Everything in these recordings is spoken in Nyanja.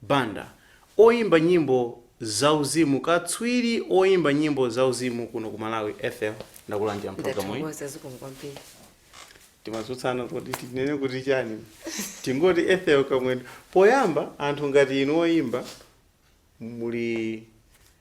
Banda, oyimba nyimbo za uzimu katswiri oyimba nyimbo za uzimu kuno ku Malawi, Ethel ndakulandirani programu iyi. Ndathokoza zikomo kwambiri. Timatsutsana kodi tinene kuti chani? Tingoti Ethel Kamwendo. Poyamba anthu ngati inu oyimba muli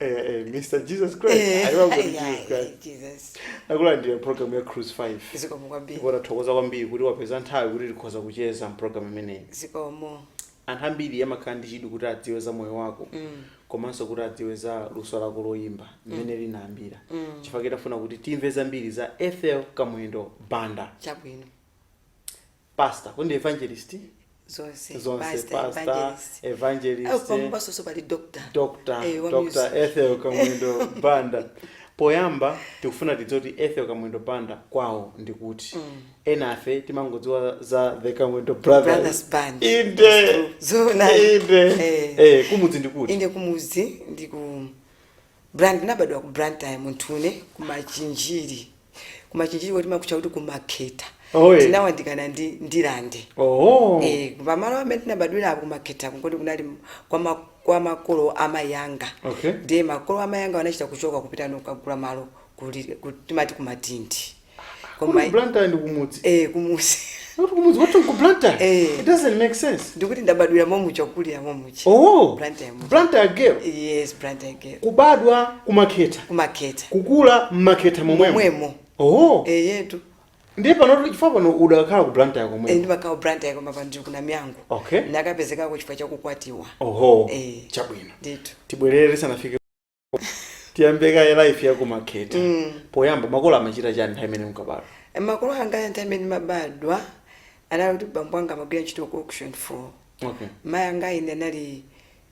Eh, eh, Mr. Jesus Christ. Eh, Aliwa kuti ai, ai, Jesus Christ. Jesus. Nakulandira program ya Cruise 5. zikomo kwambiri Ndipo tathokoza kwambiri kuti wapeza nthawi kuti tikhoza kucheza mprogram imeneyi. zikomo Anthu ambiri amakhala ndi chidwi kuti adziwe za moyo wako. komanso kuti adziwe za luso lako loyimba mmene linayambira. Chifukwa tikufuna kuti timve zambiri za Ethel Kamwendo Banda. chabwino pastor kodi ndi evangelist zonse zonse pastor, pastor evangelist. evangelist Au, pambapo pali doctor dr Eh, wa dr music. ethel kamwendo banda poyamba tikufuna tidziwe kuti ethel kamwendo banda kwawo ndi kuti ena ife timangodziwa za the kamwendo brothers Brothers Band. inde Zona. inde Eh. eh kumudzi ndi kuti ine kumuzi ndi ku Bla ndinabadwa ku Blantyre mu town ku machinjiri ku machinjiri kuti amakutcha kuti ku Makhetha Oh, eh. tinawandikana ndi Ndirande Oh. Eh, pamalo amene tinabadwira apo ku Makhetha kungoti kunali m- kwa ma- kwa makolo a mayi anga Okay. ndiye makolo a mayi anga anachita kuchoka kupita n'kukagula malo kuli- ku- timati ku Matindi Koma Koma i- Blantyre ndi kumudzi. eh kumudzi. Not kumudzi wathu ku Blantyre. Eh. It doesn't make sense. Ndikuti ndabadwira momuja kukulira momuja. Oh. Blantyre muja. Blantyre girl. Yes, Blantyre girl. Kubadwa kumakhetha. Kumakhetha. Kukula mmakhetha momwemo. Momwemo. Oh. Eh yetu. Ndiye pano chifukwa pano udakhala ku Blantyre Eh komwe. ndimakhala Blantyre koma panopa ku Namiyango. Okay. Ndakapezekako chifukwa chakukwatiwa. Oho. Eh. Chabwino. Nditu. Tibwerere tisanafike tiyambe kaye life yakumakhetha Mm. poyamba makolo amachita chani nthawi imene munkabadwa makolo anga nthawi imene ndimabadwa anali kuti bambo anga amagwira ntchito ku Auction Floors okay mayi anga ine anali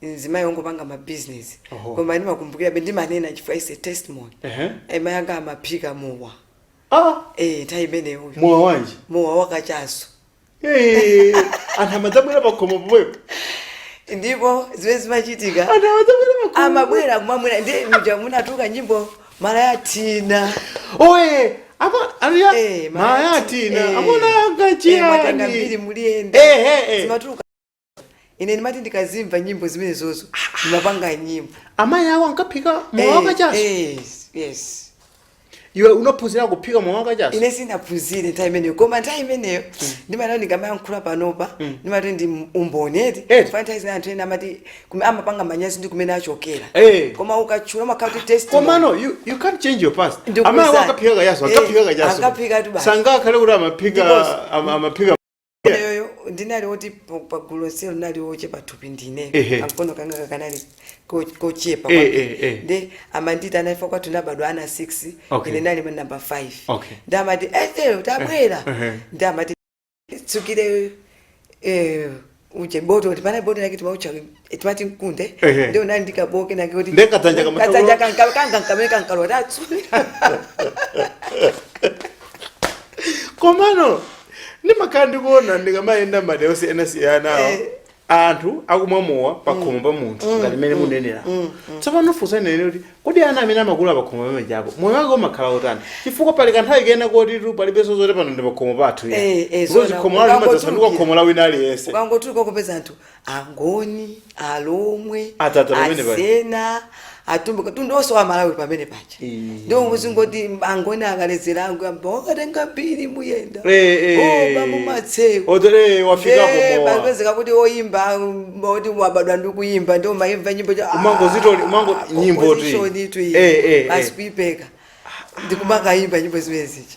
mzimayi wongopanga mabizinesi Oho. koma ndimakumbukirabe ndimanena chifukwa it is a testimony Ehe. Eh, mayi anga amaphika mowa ah Eh, nthawi imeneyo mowa wanji mowa wakachaso Eh, anthu amadzabwera pakhomo pomwepo ndipo zimene zimachitika anthu amadzabwera pakhomo amabwera kumamwa ndiye muja munkatuluka nyimbo malaya thina oye ama aniya Eh, malaya thina eh. amuna Eh, mwatenga mbiri angachiyani muliyenda Eh, eh, eh. zimatuluka ine ndimati ndikazimva nyimbo zimenezozo ndimapanga nyimbo amayi awo ankaphika mowa Eh, wakachaso eh, yes iwe unaphunzira kuphika mowa wakachaso ine sinaphunzire nthawi imeneyo koma nthawi imeneyo ndimati ndikamayankhula panopa ndimati ndi umboni eti Eti. chifukwa nthawi zina anthu ena amati kume- amapanga manyazi ndi kumene achokera Eh. koma ukatchula umakhala ngati testimony. komano you, you can't change your past Ndikuza- amayi awo ankaphika kachaso Eh, ankaphika kachaso ankaphika tu basi. sangakhale kuti Because- amaphika ama- amaphika ineyoyo ndinali oti pa- pagulu lonselo ndinali ochepa thupi ndine Ehe. kamkono kanga kakanali ko- kochepa Eh, kwambiri. eh, eh. ndi amanditi ana ife kwathu tinabadwa ana 6 Okay. ine ndinali namba 5 Okay. nde amati ethel tabwera Eh, eh. nde amati tsukire eh, uje botoli apa botoli lake timautcha timati mkunde Ehe. ndiye unali ndi kabowo kenake kuti Ndiye kadzanja kama- kadzanja kankalowa kanga nkamene kankalowa tatsuka komano ndimakhala ndikuona ndikamayenda madera osiyanasiyanawo Eh. anthu akumwa mowa pakhomo pa munthu ngati mmene mukunenera tsopano funso nali kuti kodi ana amene amakula pakhomo pamenepo moyo wake umakhala otani chifukwa pali kanthawi kena koti tu palibenso zoti pano ndi pakhomo pathu Eh, eh, zona. khomo lonselo Ukangotulukira. limadzasanduka khomo la wina aliyense ukangotuluka kupeza anthu angoni alomwe Adzadza pamenepo. asena atumbuka mtundu onse wa malawi pamene paja Eh. ndiye muzingoti angoni akaledzera angoyamba akatenga mbiri muyenda Eh, eh. oba mumatseko Otere wafikapo Eh, mowa. kupezeka kuti oyimba um, oti wabadwa ndi kuyimba ndiye amayimba nyimbo cha- ah, Umangozitoli- umango- nyimbo ti. opposition itu iyi. Eh, eh, eh. basi kuipeka ndikumakayimba nyimbo zimene zija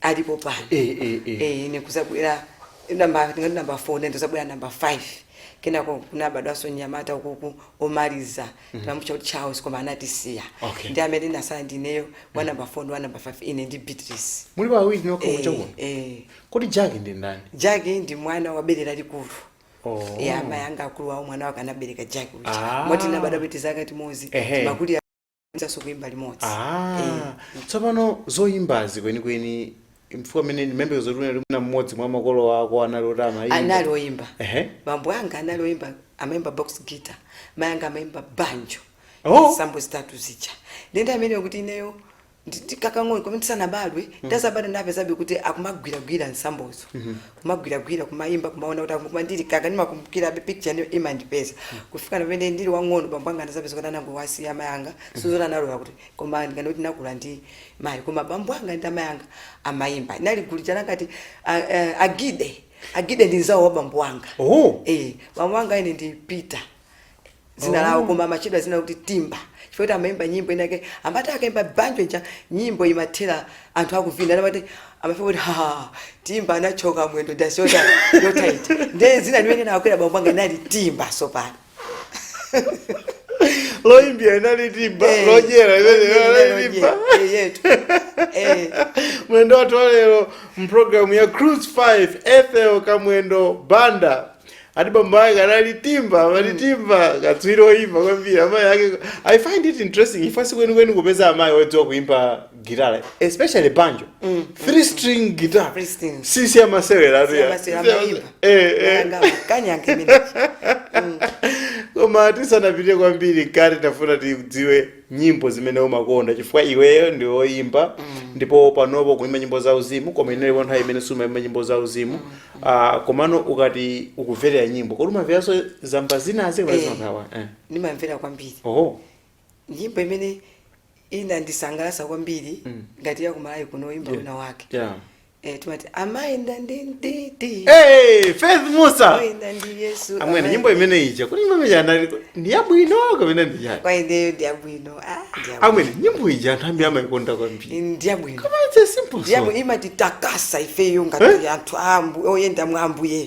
alipo pano Eh, eh, eh. Eh, ine kuzabwera namba tingati namba 4 nde kuzabwera namba 5 kenako kunabadwanso mnyamata uku omaliza timamutcha kuti charles koma anatisiya Okay. ndi amene tinatsala ndineyo wa namba 4 ndi wa namba 5 ine ndi beatrice mulipo awiri nokha Eh, kuchalo kuno eh. kodi jaki ndi ndani jaki ndi mwana wabere lalikulu Oh. ya amayi anga akulu awowo mwana wake anabereka jaki uja Ah. moti tinabadwa zaka zimodzi Ehe. timakulira tidzanso kuimba limodzi Ah, Eh. tsopano zoyimbazi kwenikweni chifukwa mmene ndimamva zoti unali mwina mmodzi mwa makolo anu anali oti amayimba anali oyimba Ehe. bambo anga anali oyimba amayimba box guitar mayi anga amayimba banjo Oh. nsambo zitatu zija nde ndi mmene kuti ineyo ndi- ndi kakang'ono komwe ndisanabadwe ndazabadwa ndapezabe kuti akumagwiragwira nsambozo kumagwiragwira kumaimba kumaona kuti akumva koma ndili kaka ndimakumbukirabe picture iyo imandipeza kufika pamene ndili wang'ono bambo anga anazapezeka kuti anangowasiya amayi anga sizoti analola kuti koma ndikana kuti nakula ndi mayi koma bambo anga ndi amayi anga amaimba inali gulu chala ngati agide agide ndi mzawo wa bambo anga Oh. eh bambo anga ine ndi peter dzina lawo oh. koma amachedwa dzina loti timba chifukwa kuti amayimba nyimbo inayake amati akayimba banjo ija nyimbo imathera anthu akuvina amati amafika kuti ha timba anathyoka mwendo dasi yota yotaiti nde dzina limene linakwera bambo anga inali timba sopano loyimbira inali timba eh, lodyera inali timba eh, mlendo wathu walero mpulogalamu ya cruise 5 ethel kamwendo banda ali bambo ake anali timba amati timba katswiri oyimba kwambiri amayi ake i find it interesting chifukwa sikwenikweni kupeza amayi odziwa kuimba gitara especially banjo three string guitar Three string. sisi amaseweratu ya. Siyamasira Sisi amaimba. Eh, eh. Nanga kanyanga imene. koma tisanapite kwambiri mkati tinafuna tidziwe nyimbo zimene umakonda chifukwa iweyo ndi woyimba ndipo panopo ukuimba nyimbo za uzimu koma inalipo nthawi imene sumaimba nyimbo za uzimu Ah, komano ukati ukumverera nyimbo kodi umamveranso zamba zinazi kapena Eh. zimakhala eh. ndimamvera kwambiri oho nyimbo imene inandisangalatsa kwambiri Mm. ngati yakumalawi kuno oyimba Yeah. wina wake yeah. Eh, amati amayenda ndi mdidi Hey, Faith Mussa. amayenda ndi yesu Amwene nyimbo amayenda- imene ija kuti nyimbo imene anali ndi yabwino kapena ndi yani? kwa ineyo ndiyabwino ah, ndiyabwino. Amwene nyimbo ija anthu ambiri amayikonda kwambiri. ndiyabwino Koma it's a simple song. ndiyabwino imatitakasa ifeyo ngati anthu a Ambu- oyenda mwa ambuyeyo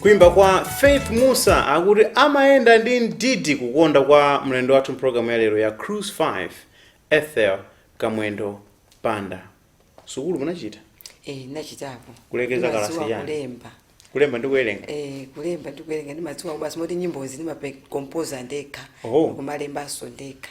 kuimba kwa faith mussa akuti amayenda ndi mdidi kukonda kwa mlendo wathu mpulogalamu ya lero ya cruise 5 ethel kamwendo banda sukulu munachita Eh, nachitapo Kulekezera Ndimadziwa kalasi yani? kulemba kulemba ndi kuwerenga Eh, kulemba ndi kuwerenga ndimadziwa basi moti nyimbozi ndimakompoza ndekha Oh. kumalembanso ndekha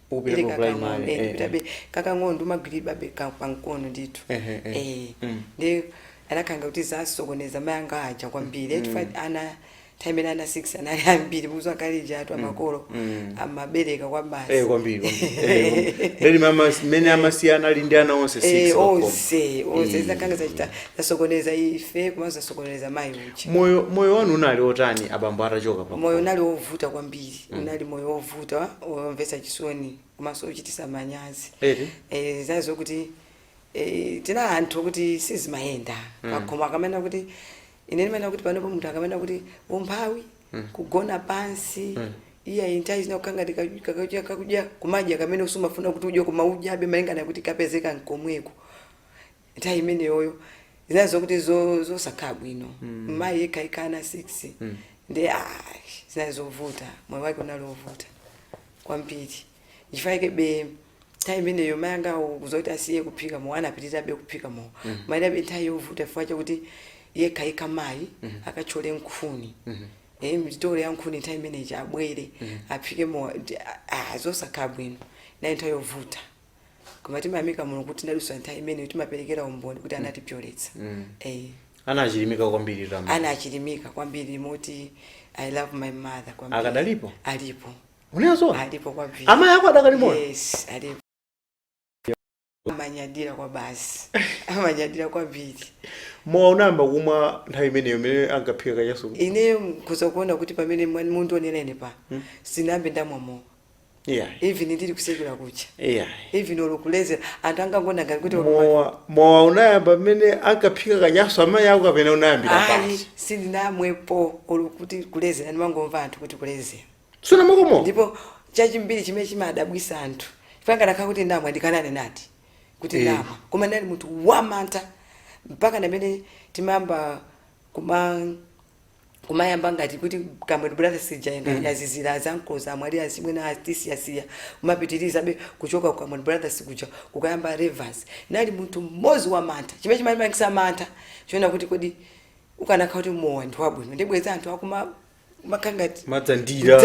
Ukupita Ili ku primary, kakang'ombe eh, ndidakali kakang'ono ndimagwiridwabe ka- pamkono ndithu Ehe, eh. Eh, Mm. ndiye zinakhala kuti zasokoneza mayi anga aja kwambiri mm. chifukwa ana nthawi imene ana 6 anali ambiri mudziwa kale lija makolo Mm. amabereka kwabasi Eh, kwambiri kwambiri. Eh, kwambiri. Leli mama mmene amasiyana ali ndi ana onse 6 Eh, pakhomo. onse onse Eh. zinakhala ngati zasokoneza ife komanso zasokoneza mayi ndiye moyo moyo wanu unali otani abambo atachoka pa moyo unali wovuta kwambiri Mm. unali moyo wovuta womvetsa chisoni komanso wochititsa manyazi Eti? Eh, zinali zokuti eh, tinali anthu okuti sizimayenda Mm. pakhomo akamanena kuti ine ndimanena kuti panopo munthu akamanena kuti umphawi Mm. kugona pansi Mm. iyayi nthawi zina kukhala ngati kudya kakudya kumadya kamene usumafuna kuti udye koma udyabe malingana kuti kapezeka mkomweko nthawi imeneyoyo zinali zokuti zo- zosakhala bwino mayi yekha yekha ana 6 ndi ah, zinali zovuta moyo wake unali wovuta kwambiri nchifukwa yakebe nthawi imeneyo mayi anga kudzati asiye kuphika mowa anapitirirabe kuphika mowa inalibe nthawi yovuta chifukwa chakuti yekha yekha mayi akatchole nkhuni Eh, mitolo ya nkhuni nthawi imeneyi abwere aphike mowa ndi- ah, ah, zosakhala bwino inali nthawi yovuta koma timayamika mulungu kuti tinadutsa nthawi imeneyo timaperekera umboni kuti anatipyoletsa Mm. eh, ana achilimika kwambiri tama ana achilimika kwambiri moti i love my mother kwambiri Akadalipo? alipo unezo alipo kwambiri amayi ako adakali moyo yes alipo amanyadira kwa basi amanyadira kwambiri mowa unayamba kumwa nthawi imeneyo imene ankaphika kachasu ineyo mukuzaona kuti pamene mwa- mukundionera ine pano sinayambe ndamwa mowa yeah even ndili kusukulu kuja yeah even olo kulezera anthu angangona ngati kuti olo- mowa mowa unayamba mmene ankaphika kachasu amayi ako kapena unayambira ayi pansi sindinamwepo olo kuti kulezera ndimangomva anthu kuti kulezera kumakoma ndipo chachiwiri chimene chimadabwisa anthu zingatheke kuti ndamwa ndikanane nati kuti Eh. ndamwa koma ndinali munthu wamantha mpaka pamene timayamba kuma kumayamba ngati kuti Kamwendo Brothers sija enda mm. yazizira azankoza amwali asimwe na artist yasiya kumapitirizabe kuchoka kwa Kamwendo Brothers kuja kukayamba rivers ndinali munthu mmodzi wamantha chimene chimandipatsa mantha nchonena kuti kodi ukanakhala kuti mowa ndi wabwino si bwenzi anthu akumwa makamaka ngati amadzandira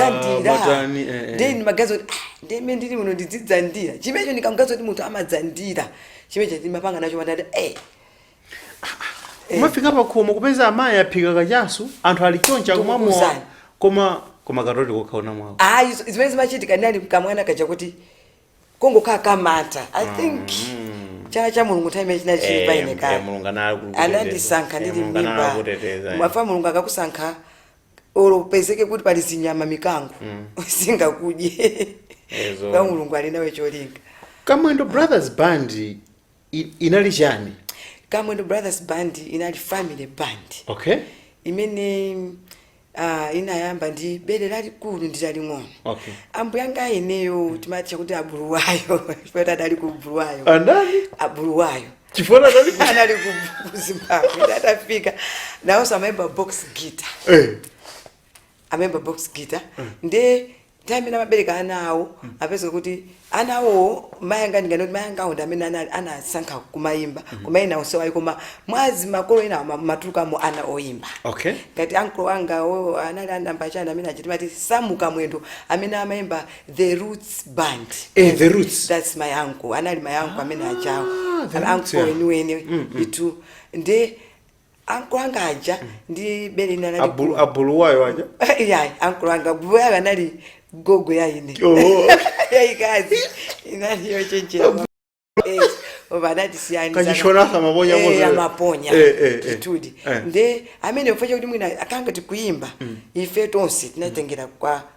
matani eh, eh. then magazo ah, ndiye ine ndili muno ndizidzandira chomwecho ndikamgazo kuti munthu amadzandira chomwecho ndimapanga nacho mantha eh kumafika pakhomo kupeza amayi aphika kachasu anthu ali chonchi akumwa mowa Ndikukuuzani. koma koma kunena zoti kukalawa mowawo ayi z- zimene zimachitika ndinali kamwana kaja kuti kongokhala kamata i think chala cha mulungu nthawi imeneyo chinali chili pa ine kale mulungu anali kukuteteza. anandisankha Eh, ndili Mulungu anali mmimba kukuteteza, eh. chifukwa mulungu akakusankha olo upezeke kuti pali zinyama mikango singakudye Zoona. chifukwa mulungu ali nawe cholinga kamwendo brothers band I, inali chani kamwendo brothers band inali family band okay imene uh, inayamba ndi bere lalikulu ndi laling'ono Okay. ambuyanga ameneyo timawatcha kuti abuluwayo chifukwa adali ku buluwayo anali abuluwayo chifukwa anali ku- anali ku- ku zimbabwe adafika nawonso amayimba box guitar Eh, amayimba box guitar nde nthawi imene amabereka ana awo apeza kuti ana awowo mayi anga ndingati kuti mayi anga awo ndi amene ana- anasankha kumayimba koma ena onse ayi koma mwazi wa makolo ena ma- mumatulukamo ana oyimba okay ngati ankolo angawo anali anamba chani amene amatchedwa Samu Kamwendo amene amayimba the roots band Eh, The Roots. that's my uncle anali my uncle amene achawo the Roots, ankolo yeah. weniweni itu nde ankulu anga aja ndi bere lina Abulu- lalikulu abuluwayo aja yayi ankulu anga ankulu anga anali gogo ya ine Oh. yayikulu inali yochenjera Kachishona samaponya mose. amaponya Eh, eh, eh. kitudi Eh. nde amene pofa chakuti mwina zokhala ngati kuyimba ife tonse tinatengera kwa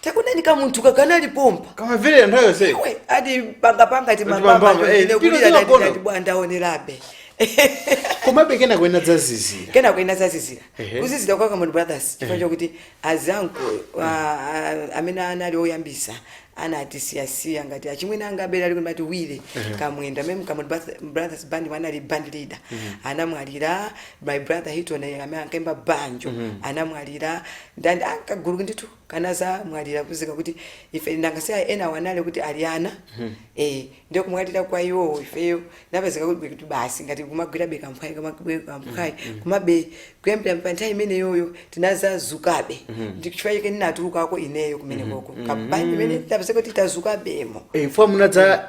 Takulani kamunthu kakanali pompa kamamvera nthawi yonseyo we atipangapanga Ati pangapanga, timayimbayimba eh, tino kulira tinagona. ndati bwana onerabe komabe kenaka zinadzazizira kenaka zina zazizira Ehe. kuzizira kwa Kamwendo brothers chifukwa chokuti anzanga amene anali oyambisa anatisiyasiya ngati achimwene anga abera ali kumati wile Kamwendo mem Kamwendo Broth- brothers band yemwe anali band leader anamwalira my brother hiton amene ankaimba banjo anamwalira ndandi ankagulu ndithu kenaka anazamwalira kupezeka kuti ife nanga si a- enawo anali kuti ali ana eh ndiye kumwalira kwa iwowo ifeyo tinapezeka kuti kuti basi ngati kamagwirabe kamphwayi kamagwirabe kamphwayi komabe kuyambira pa nthawi imeneyoyo tinazadzukabe ndi chifukwa chake ndinatulukako ineyo kumenekoko kenako tinapezeka kuti tadzukabemo Eh, mfwa munadza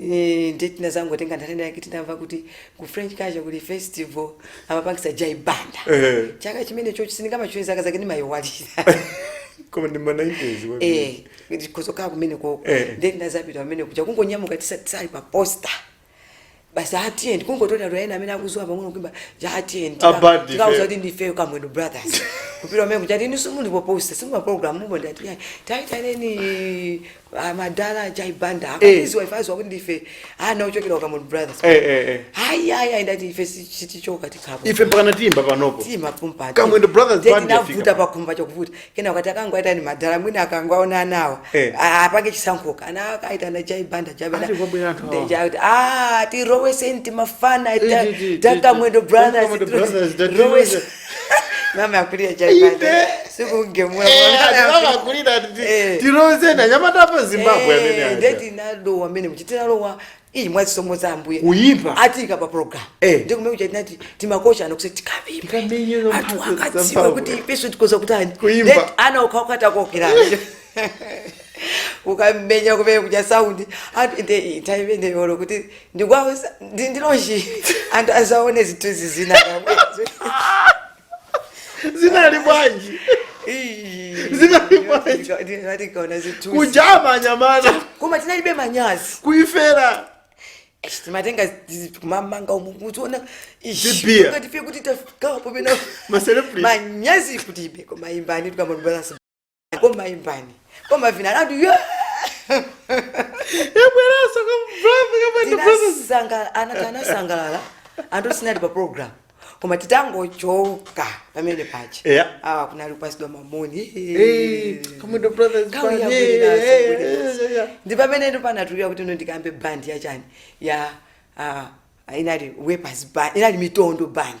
Eee ndiye tinazangotenga nthawi ina yake tinamva kuti ku French Culture kuli festival amapangitsa Jai Banda. Eh. Chaka chimene choncho sindingatchule zaka zake ndimayiwalira. koma ndi ma 90s wa- Eh, ndi kozokera kumenekoko. Eh. Ndiye tinazapita kumenekuja kungonyamuka tisali pa poster. Basi ati tiyeni kungotola wa ena amene akudziwa pang'ono kuimba uja ati tiyeni. Abadi, Tikauze eh. kuti ndifeyo kamwendo brothers. Kupita kumenekuja ati inu simuli pa poster simuli pa program mupo ndati ya taitaneni Ah, madala ajai banda Eh. akatiziwa ife aziwa kuti ndife ana ochokera ukamoni brothers Eh, eh, eh. ayi ayi ayi ndati ife si- sitichoka tikhapo ife mpaka natimba panopo tima pumpa Kamwendo Brothers Band yafika. tinavuta pakhumba chokuvuta kena ukati akangwaita ni madala mwina akangwaona anawa Eh. A- apange chisankhuka ana akaita na jai banda jai banda Ati kwabwera anthu awa. Ndeja kuti, ah tiroweseni timafana Eh, ti- ti- ti- takamwendo ti- Kamwendo Brothers, tiro- tati- rowese- mama yakulira Jai Banda sizingatheke ndakamakulira Eh. tiroze ndi anyamata oyimba bwino amene aja nde tinalowa mmenemuja tinalowa ii mwa zisomo za ambuye Kuyipa. atiika pa program Eh. nde kumenekuja tinati timakocha ano kusati Tikamenye tikayimbe anthu mphatso za akadziwa Paulo. kuti ifenso tikhoza kutani Kuimba. Ndeti ana ukhawukhata kokirana kukamenya kumenekuja saundi anthu inde nthawi imeneyoyo kuti ndi kwawo ndi launch anthu adzaone zinthu izi zina kamwezo zinali bwanji Zinali bwanji? zinali tikaona zinthu kutchena anyamata koma tinalibe manyazi kuifera Eish, timatenga zi- tikumamanga umu kutiona Zibia. ngatife kuti tafikapo pena maselebrity manyazi kulibe koma imbani tukamambalasa koma imbani koma vina landu yabweranso Kamwendo Kamwendo brothers Tinasangala- ana- anasangalala anthu sitinali pa program koma titangochoka pamenepaja Yeah. awa kunali kupatsidwa ma moni Eh, kamwendo brothers Gawo band, yabwino eh, nazo, eh, bwino eh, nazo. eh, eh. ndi pamene ndinapatulira kuti ine ndikayambe band ya chani ya ah, inali wepers band inali mitondo band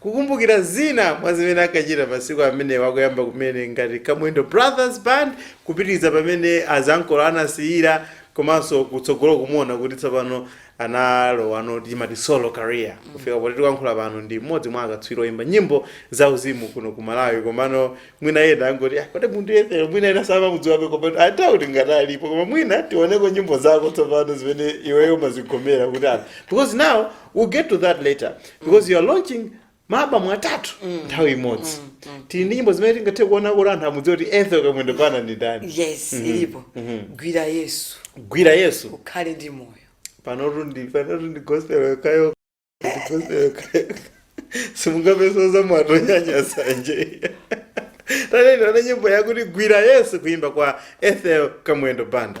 Kukumbukira zina mwa zimene ankachita masiku amenewa kuyamba kumene ngati Kamwendo Brothers Band kupitiliza pamene anzanuwo anasiyira komanso kutsogoloku muona kuti tsopano analowa mu timati solo career kufika poti tikuyankhula pano ndi mmodzi mwa akatswiri oyimba nyimbo za uzimu kuno ku Malawi komano mwina ena angoti "Ah, kodi munthu uyu sure mwina ena samamudziwabe komano atatu kuti ngati alipo koma mwina tioneko nyimbo zako tsopano zimene iweyo umazigomera kuti apa because now we'll get to that later because you are launching maabamu atatu nthawi imodzi tili ndi nyimbo zimene tingathe kuona kuti anthu amudziwa kuti ethel kamwendo banda ndi ndani yes ilipo gwira yesu gwira yesu ukhale ndi moyo panotu ndi panotu ndi gospel yokayo ndi gospel yokayo simungapezenso za mwato nyanya sanje tatiyeni tione nyimbo yakuti gwira yesu kuimba kwa ethel kamwendo banda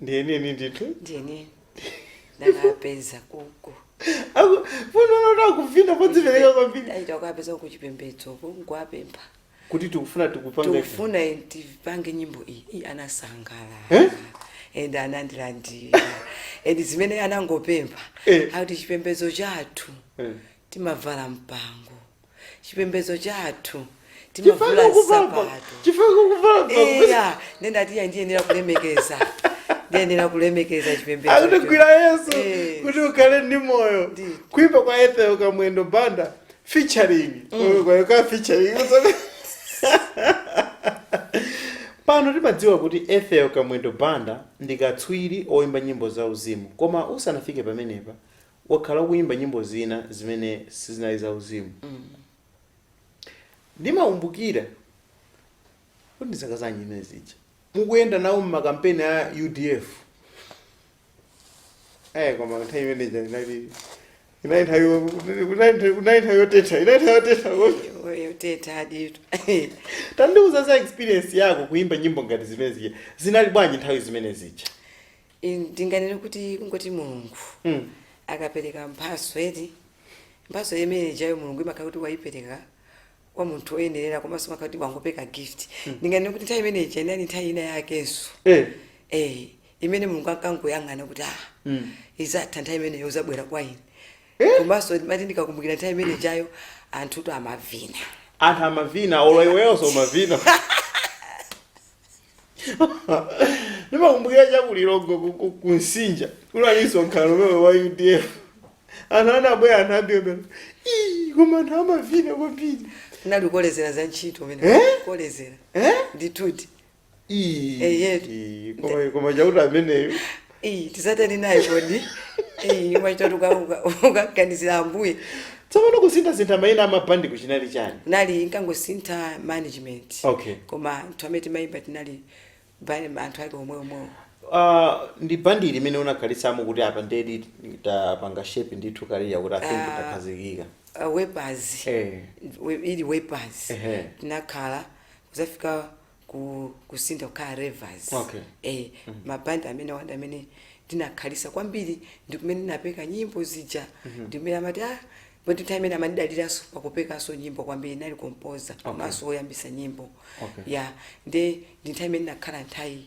ndiyeneni ndithu ndiyeneni ndakapeza kuku Aku- fundo unoti akuvina podzipereka kwambiri eya titakapeza kuchipembedzo nkuwapempha kuti tikufuna tikupanga tikufuna tipange nyimbo iyi iyi anasangalala Eh? and anandilandira and zimene anangopempha Eh. akuti chipembedzo chathu Eh. timavala mpango chipembedzo chathu timavula nsapato eya ndiye ndinati eya ndiyenera kulemekeza ndiyenera kulemekeza chipembedzo akuti gwira yesu Eh. kuti ukhale ndi moyo Ndi. kuimba kwa ethel kamwendo banda featuring kwaya ka featuring pano timadziwa kuti ethel kamwendo banda ndi katswiri oimba nyimbo za uzimu koma usanafike pamenepa wakhala ukuyimba nyimbo zina zimene sizinali za uzimu ndimakumbukira kuti ndi zaka zanji zimene zija mukuyenda nawo mmakampeni a udf eh koma nthawi imene ija inali inali nthawi yo- kunali- kunali nthawi yotentha inali nthawi yotentha yotentha aditu tandiuzani za experience yako kuyimba nyimbo ngati zimene zija zinali bwanji nthawi zimene zija Ine ndinganene kuti kungoti Mulungu Mm. akapereka mphatso eti mphatso imene ijayo Mulungu imakhala kuti waipereka kwa munthu woyenerera komanso imakhala kuti wangopereka gift ndinganene kuti nthawi imene ija inali nthawi ina yakenso Eh. eh imene Mulungu ankangoyang'ana kuti ah Mm. izatha nthawi imeneyo uzabwera kwa ine Eh? komanso mmati ndikakumbukira nthawi imene ijayo anthutu amavina anthu amavina olo iweyoso umavina ndimakumbukira cha ku Lilongwe ku- ku- ku Msinja kunalinso msonkhano umenewu wa udf anthu anabwera anthu ambirimbiri "Ii, koma anthu amavina kwambiri kunali kukolezera za ntchito pamene Eh? kukolezera Eh? ndituti Ii, Eyetu. ii, koma- koma chakuti ameneyo Iyi tizatani naye kodi? Iyi umachita kuti ukaganizira ambuye. Tsopano kusintha-sintha maina a mabandiku chinali chani? Kunali inkangosintha management. Okay. Koma anthu amene timayimba tinali band anthu ake omwe-omwewo. Uh, ndi bandi iti imene unakhalitsamo kuti apa ndiyedi tapanga shape ndithu career kuti I think Ah. takhazikika. Uh, wepazi. Eh. We- Ili wepazi. Ehe. Tinakhala kuzafika ku kusintha kukhala revers Okay. eh, mabandi amene bandi imene ndinakhalisa kwambiri ndikumene ndinapeka nyimbo zija ndikumene amati ah poti nthawi imene amandidaliranso pakupekanso nyimbo kwambiri ndinali kompoza komanso woyambisa nyimbo Okay. ya nde ndi nthawi imene ndinakhala nthawi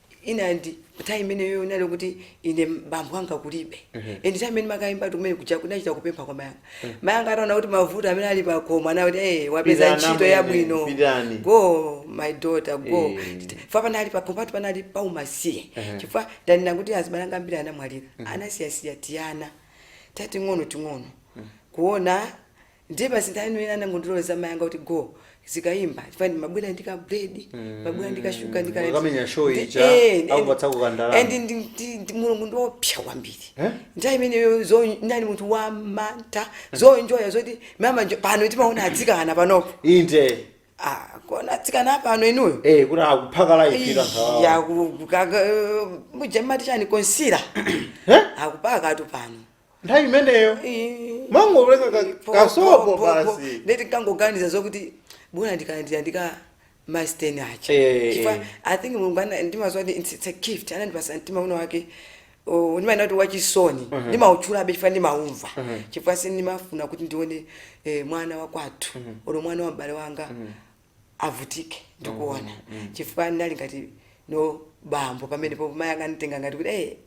and nthawi imeneyo inali kuti ine m- bambo anga kulibe and nthawi imene ndimakaimbatu kumene kuja kunachita kupempha kwa mayi anga mayi anga ataona kuti mavuto amene ali pakhomo anakuti hey, wapeza Pitani ntchito amwene, yabwino pitani. go my daughter go Eh. chifukwa panali pakhomo patu panali paumasiye chifukwa ndanena kuti azibale anga ambiri anamwalira anasiyasiya tiyana tating'ono ting'ono kuona Ndiye basi nthawi imeneyo anangondiloleza amayi anga kuti go uzikayimba chifukwa ndimabwera ndi ka bread ndimabwera ndi ka sugar ndi ka Mukamenya show Ndi- ija, eh, and- akupatsako ka ndalama. and ndi- ndi- ndi- mulungu ndiopsa kwambiri Eh? nthawi imeneyo zo- ndinali munthu wamantha zonjoya zoti mama njo- pano timaona atsikana panopo inde Ah, kuona atsikana pano inuyo eh kuti akuphaka live ita nkhawa ya mujamati chani konsira Eh? akupaka tu pano nthawi imeneyo ndimangoleka ka- kasopo basi ndiye ndikangoganiza zokuti bwana ndikalandira ndika masteni acha Eh. Chifukwa i think mulungu ana- ndimaziwa kuti it's- it's a gift anandipasa mtima wina wake oh, ndimaenda kuti wachisoni ndimautchulabe chifukwa ndimaumva chifukwa sindimafuna kuti ndione eh, mwana wakwathu olo mwana wa m'bale wanga avutike ndikuona chifukwa ndinali ngati no bambo pamene po mayi anga anditenga ngati kuti eh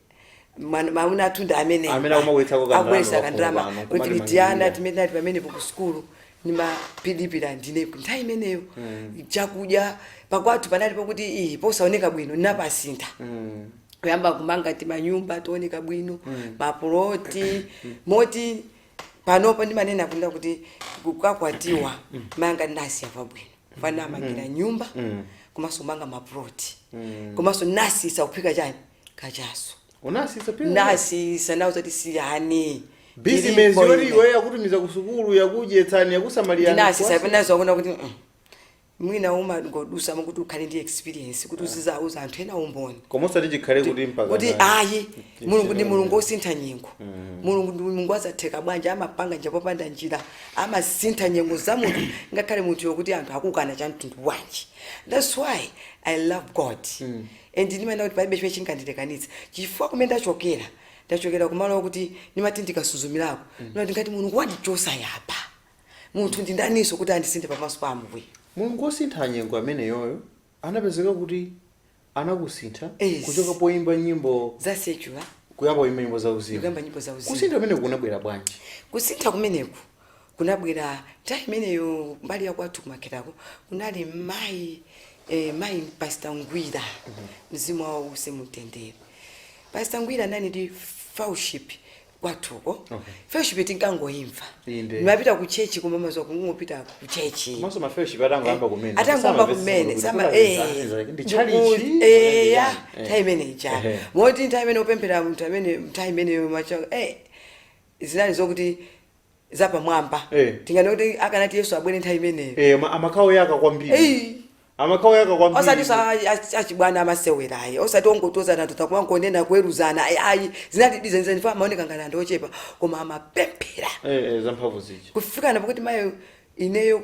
mwana- mwamuna wathu ndi amene Amene akumabweretsako ka abweresa ndalama kandalama kwafuko pano, kuti kumati tiana manjinga. timene tinali pamenepo ku sukulu ndimatilipira ndine nthawi imeneyo chakudya pakwathu panali pakuti iyi posaoneka bwino ndinapasintha kuyamba kumanga timanyumba tooneka bwino mapuloti moti panopo ndimanena kunena kuti kukakwatiwa mayi anga ndinawasiya pabwino chifukwa ndinawamangira nyumba komanso kumanga maploti komanso ndinawasiyisa kuphika chani kachaso unasisa pia ndasiyisa nawo zoti siyani bizinesi yoti iwe yakutumiza kusukulu yakudyetsani yakusamalirani ndinasiyisa pena zakuona kuti mm, mwina umangodutsamo kuti ukhale ndi experience kuti uzizauza anthu ena umboni koma osati chikhale kuti mpaka kuti na- ayi kuti mulungu ndi chino- mulungu osintha nyengo mulungu ndi mulungu wa zotheka bwanji amapanga njira popanda njira amasintha nyengo za munthu ngakhale munthu wokuti anthu akukana cha mtundu wanji thats why i love god and ndimaona kuti palibe chimene chingandilekanitse chifukwa kumene ndachokera ndachokera kumalo okuti ndimati ndikasuzumirako ndimati ngati mulungu wandichosa apa Munthu ndi ndaninso kuti andisintha pamaso pa Ambuye? Mulungu wosintha nyengo ameneyoyo anapezeka kuti anakusintha Yes. kuchoka poimba nyimbo za secular kuyamba kuimba nyimbo za uzimu. ndikuyamba nyimbo za uzimu. Kusintha kumeneku kunabwera bwanji? kusintha kumeneku kunabwera nthawi imeneyo mbali ya kwathu kumakhetako kunali mayi eh, mayi pastor Ngwira mzimu wawo uuse mumtendere pastor Ngwira anali ndi fellowship kwathuko Okay. fellowship tinkangoyimva Inde. ndimapita ku chechi koma mwadziwa kungopita ku chechi komanso mafellowship atangoyamba kumene atangoyamba kumene sama eh, ndi chalichi ndiku- eh, ya, time imene ijayo Ehe. moti nthawi imene opemphera munthu amene nthawi imene mwaja eh zinali zokuti zapamwamba Eh. tinganene kuti akanati Yesu abwere nthawi imeneyo Eh, ma- amakhala oyaka kwambiri Ei. amakhala oyaka osati kwambiri sa a- achibwana amasewerayi osati ongotonzana takumangonena kuweruzana ayi ayi zinali dizenizeni ndipo amaoneka ngati anthu ochepa koma amapemphera Eh, eh, zamphamvu zija kufikana pakuti mayo ineyo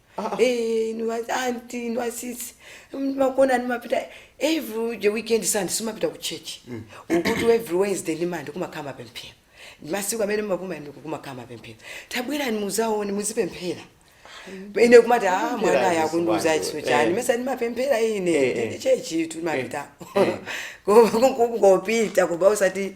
Eh, inu ma- aunt inu asisi makona ndimapita every weekend sunday ndimapita ku church akuti every wednesday ndimandi kumakhala mapemphero masiku amene mapuma ndi kumakhala mapemphero tabwerani mudzaone muzipemphera ine kumati a Kupemphera mwana ayi zisi akundiuza bwanji, izo eh. chani mesa ndimapemphera Eh, ine eh. ndi chechi tumapita Eh, eh. kungopita basi osati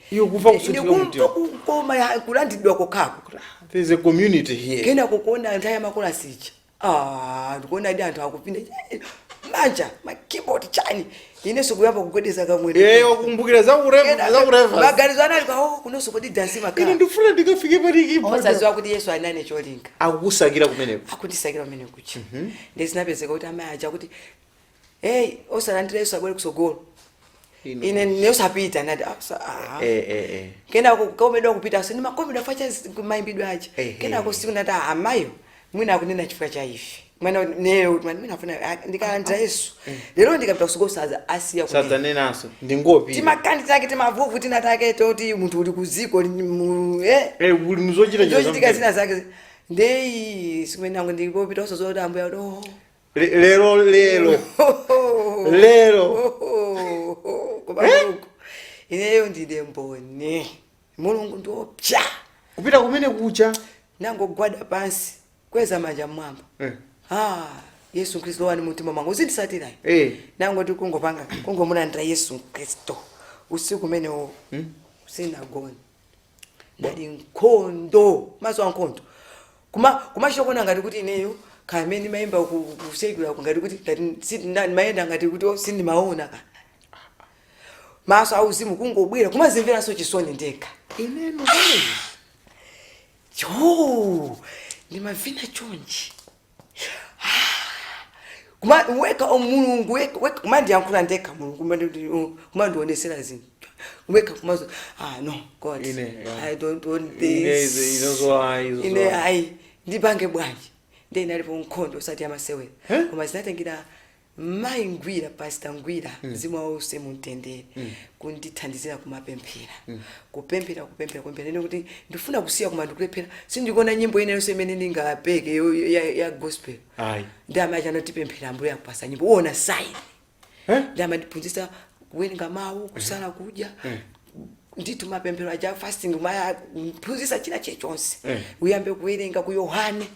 Iwe kumva Eh, kusinthika ndikumva mumtima. kukoma ya- kulandiridwa kokhako There is a community here. kena kukuona anthu ayamba makolasi aja Ah, ndikuonadi anthu akupinda manja makeyboard chani inenso kuyamba kugwedeza kamwene Eh, wakumbukira za ureva, za ureva. maganizo anali kwa oh, kunonso kodi dansi Ine makhala ndifuna ndikafike pali kipa. osaziwa kuti Yesu anali ndi cholinga Akukusakira kumeneko. akundisakira kumeneko ndiye zinapezeka kuti amai aja kuti hey osalandira Yesu abwere kutsogolo Inu. ine ine osapita nati "Ah, sa- ah." Eh, eh, eh. kenako kukomedwa kupita so ndimakomedwa vaja mayimbidwe aja Ehe. kenako tsiku nati "Ah, amayo mwina akunena chifukwa cha ife mwina ineyo mwina mwina afuna ah, ndikalandira Yesu lero ndikapita kutsogolo sadza asiya kunena sadzanenanso ndingopita timakhani take timavuto tina take toti munthu uli kudziko li- mu- eh Eh, uli muzochita chita zochitika zina zake ndiye zimenezo ndikopita osadziwa zoti ambuye akuti oh Le- lero lero lero Koma Mulungu, ineyo ndine mboni mulungu ndi woopsa kupita kumene kuja nangogwada pansi kwezani manja mmwamba Eh. ah, Yesu Khristu lowani mumtima mwanga muzinditsatira Eh. nangoti kungopanga kungomulandira Yesu Khristu usiku umenewo sindinagone ndati nkhondo maso a nkhondo kuma kumachita kuona ngati kuti ineyo kaya amene ndimayimba ku- ku- kuseidula ku ngati kuti ngati si- nda- ndimayenda ngati kuti oh, sindimaona kaya maso auzimu kungobwera kumadzimveranso chisoni ndekha ineyo pamene ijo ndimavina chonchi Kuma- weka o mulungu weka- weka- kumandiyankhula ndekha mulungu kumandi- um, kumandionetsera zinthu weka kumati ah no god Ine, yeah. i don't want Ine this izi- izozo ayi, izozo ine ayi. ayi ndipange bwanji nde inalipo nkhondo osati yamasewera Eh? koma zinatengera Mayi Ngwira, Pastor Ngwira, mzimu wawo uuse mu mtendere, kundithandizira kumapemphera, kupemphera, kupemphera, kupemphera. Ine kuti ndifuna kusiya koma ndikulephera, sindikuona nyimbo ina yonse imene ndingapeke yo- yo- ya, ya gospel. Ayi. Ndi amayi aja anati pemphera Ambuye akupasa nyimbo, uona sign. Eh? Nde anandiphunzitsa kuwerenga mawu, kusala kudya, ndithu mapemphero aja fasting mayi aja kuphunzitsa china chilichonse Eh. uyambe kuwerenga ku yohane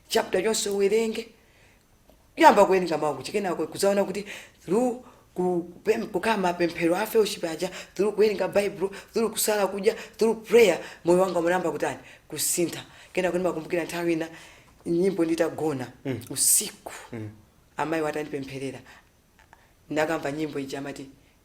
chapter yonse uwerenge Kuyamba kuwerenga mawu kuja kenako kudzaona kuti through ku kupem- kukhala mapemphero a fellowship aja through kuwerenga baibulo through kusala kudya through prayer moyo wanga unayamba kutani kusintha kenako ndimakumbukira nthawi ina nyimbo nditagona usiku amayi atandipempherera ndinayamba nyimbo ija amati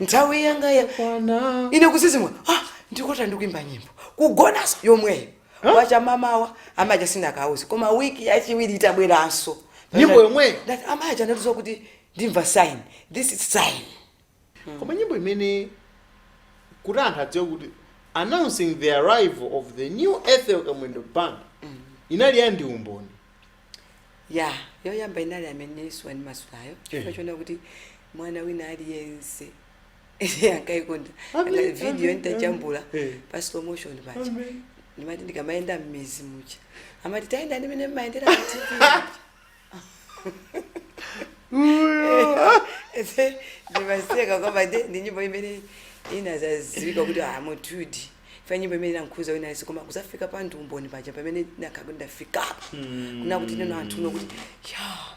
nthawi yanga yakwana ine kudzidzimuka ah, ndikulota ndikuimba nyimbo kugonanso yomweyo wacha m'mawa amayi aja sindinakauze koma wiki yachiwiri itabweranso Nyimbo yomweyo? Ndati, amayi aja anandiuza kuti ndimva sign this is sign koma nyimbo imene kuti anthu adziwe kuti announcing the arrival of the new ethel kamwendo band inali ya ndi umboni ija yoyamba inali Amen Yesu wandimasulayo chifukwa Eh. unkachita kuona kuti mwana wina aliyense ankaikonda Amen, Anga- video amen, nditajambula amen. Eh. pa slow motion paja Amen. ndimati ndikamayenda m'midzi muja amati tayenda mmene mumayendera pa tv ndimaseka kwambiri ndi nyimbo imene inadzadziwika kuti asinthadi Chifukwa nyimbo imene inakhudza wina aliyense koma kudzafika pa ndi umboni paja pamene ndinakhala kuti ndafikapo. Kunena kuti tsopano anthu aona kuti yeah.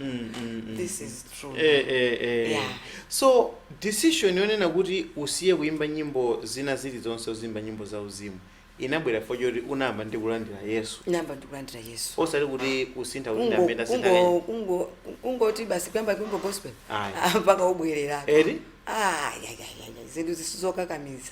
This is true. Eh, eh, eh. Yeah. so decision yonena kuti usiye kuimba nyimbo zina zilizonse uziimba nyimbo za uzimu inabwera chifukwa choti unayamba ndi kulandira yesu Ndinayamba ndikulandira Yesu. osati kuti kusintha kuti Kungo- ndamene kungo- asintha kungo- kungoti basi kuyamba kuimba gospel Ayi. Ah, mpaka ubwerera eti Ah, ya, ya, ya, ya. zinthu si zokakamiza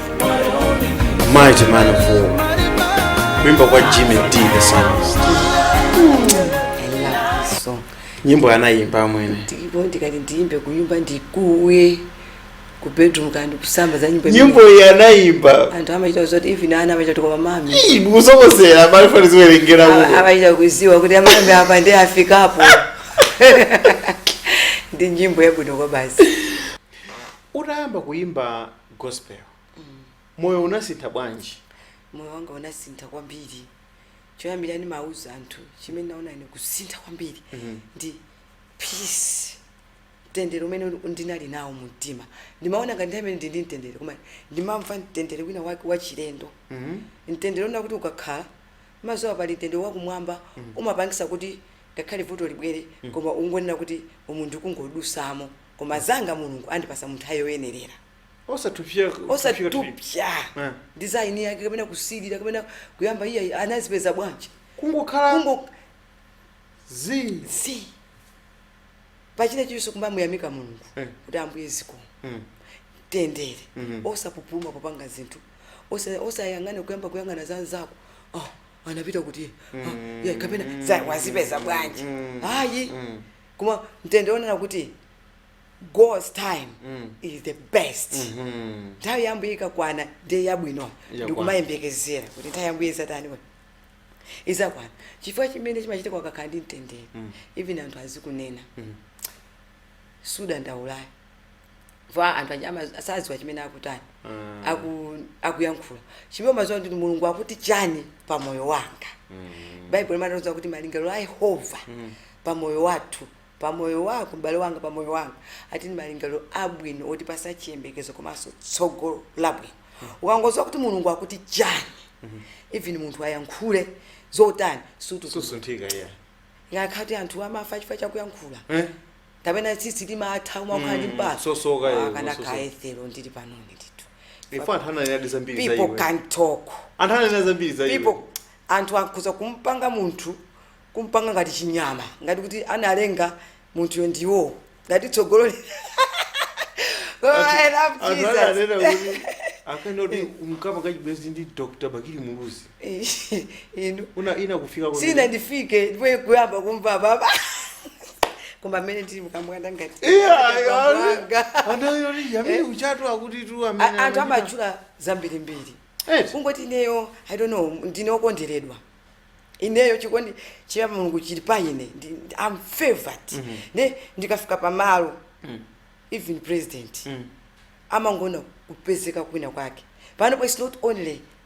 mighty man of war kuimba kwa jimmy d the psalmist so nyimbo anayimba amwene ndipo ndikati ndiyimbe kuyimba ndikuwe ku bedroom kapena kusamba za nyimbo nyimbo iyi anayimba anthu amachita zoti even ana amachita kuti koma mami Ii, ndikusokozera pali fani ziwerengera Ava- uko amachita kuziwa kuti amami apa ndi afikapo ndi nyimbo yabwino kwabasi utayamba kuyimba gospel moyo unasintha bwanji moyo wanga unasintha kwambiri choyambira ndimauza anthu chimene naona ine kusintha kwambiri Mhm. ndi peace mtendere umene uli- ndinali nawo mu mtima ndimaona ngati nthawi imene ndili ndi mtendere koma ndimamva mtendere wina wake wachilendo Mhm. mtendere onena kuti ukakhala umadziwa pali mtendere wakumwamba umapangisa kuti ngakhale vuto libwere koma ungonena kuti umu ndikungodusamo koma zanga mulungu andipasa munthawi yoyenerera osatupya eh. ndi za ini yake kapena kusilira kapena kuyamba iye anazipeza bwanji kungokhala Kungo... zi zi pachinachilichonse kumamuyamika mulungu eh. kuti ambuye zikomo mtendere mm -hmm. osapupuluma popanga zinthu osayang'ane osa kuyamba kuyang'ana za nzako oh, anapita kuti mm. oh, yeah, kapena wazipeza bwanji mm. ayi mm. koma mtendere onena kuti god's time Mm. is the best Mhm. nthawi ya ambuye ikakwana ndiye yabwino Yakwana. ndikumayembekezera kuti nthawi ya ambuye izatani izakwana chifukwa chimene chimachitika ukakhala ndi mtendere Mm. even anthu azikunena Mm. sudandaula ayi va anthu aja ama- sadziwa chimene akutani aku, akuyankhula chimene umadziwa kuti mulungu akuti chani pa moyo wanga baibulo limatauza kuti malingaliro a yehova pa moyo wathu pa moyo wako m'bale wanga pa moyo wanga ati ndi malingaliro abwino otipasa chiyembekezo komanso tsogolo labwino ukangodziwa kuti mulungu akuti chani even munthu ayankhule zotani sutu susunthika iyayi ngakhale kuti anthu amafa chifukwa chakuyankhula Eh? kapena tsitsi limatha umakhala ndi Mm, mpala sosoka, eh, akana umasosoka. ka ethel ndili panoni ndithu Ife anthu ananenadi zambiri za people iwe. can talk Anthu ananena zambiri za iwe. people anthu akhoza kumpanga munthu kumpanga ngati chinyama ngati kuti analenga munthuyo ndiwo ngati tsogolo li- Oh, I love Anthu Jesus. ananena kuti akanena kuti unkapanga chibwezi ndi Dr. Bakili Muluzi. inu Una ina kufika kwa. sinandifike ndipo kuyamba kumva baba koma amene ndili mukamwanda ngati Iya, iya. Mwanga. Ana yori yamini kuchatu akuti tu A- amene. anthu amatchula zambirimbiri Eh. kungoti ineyo i don't know ndine okonderedwa ineyo chikondi cha mulungu chili pa ine ndi- ndi- i'm favored ne ndikafika pamalo even president amangoona kupezeka kwina kwake panopo its not only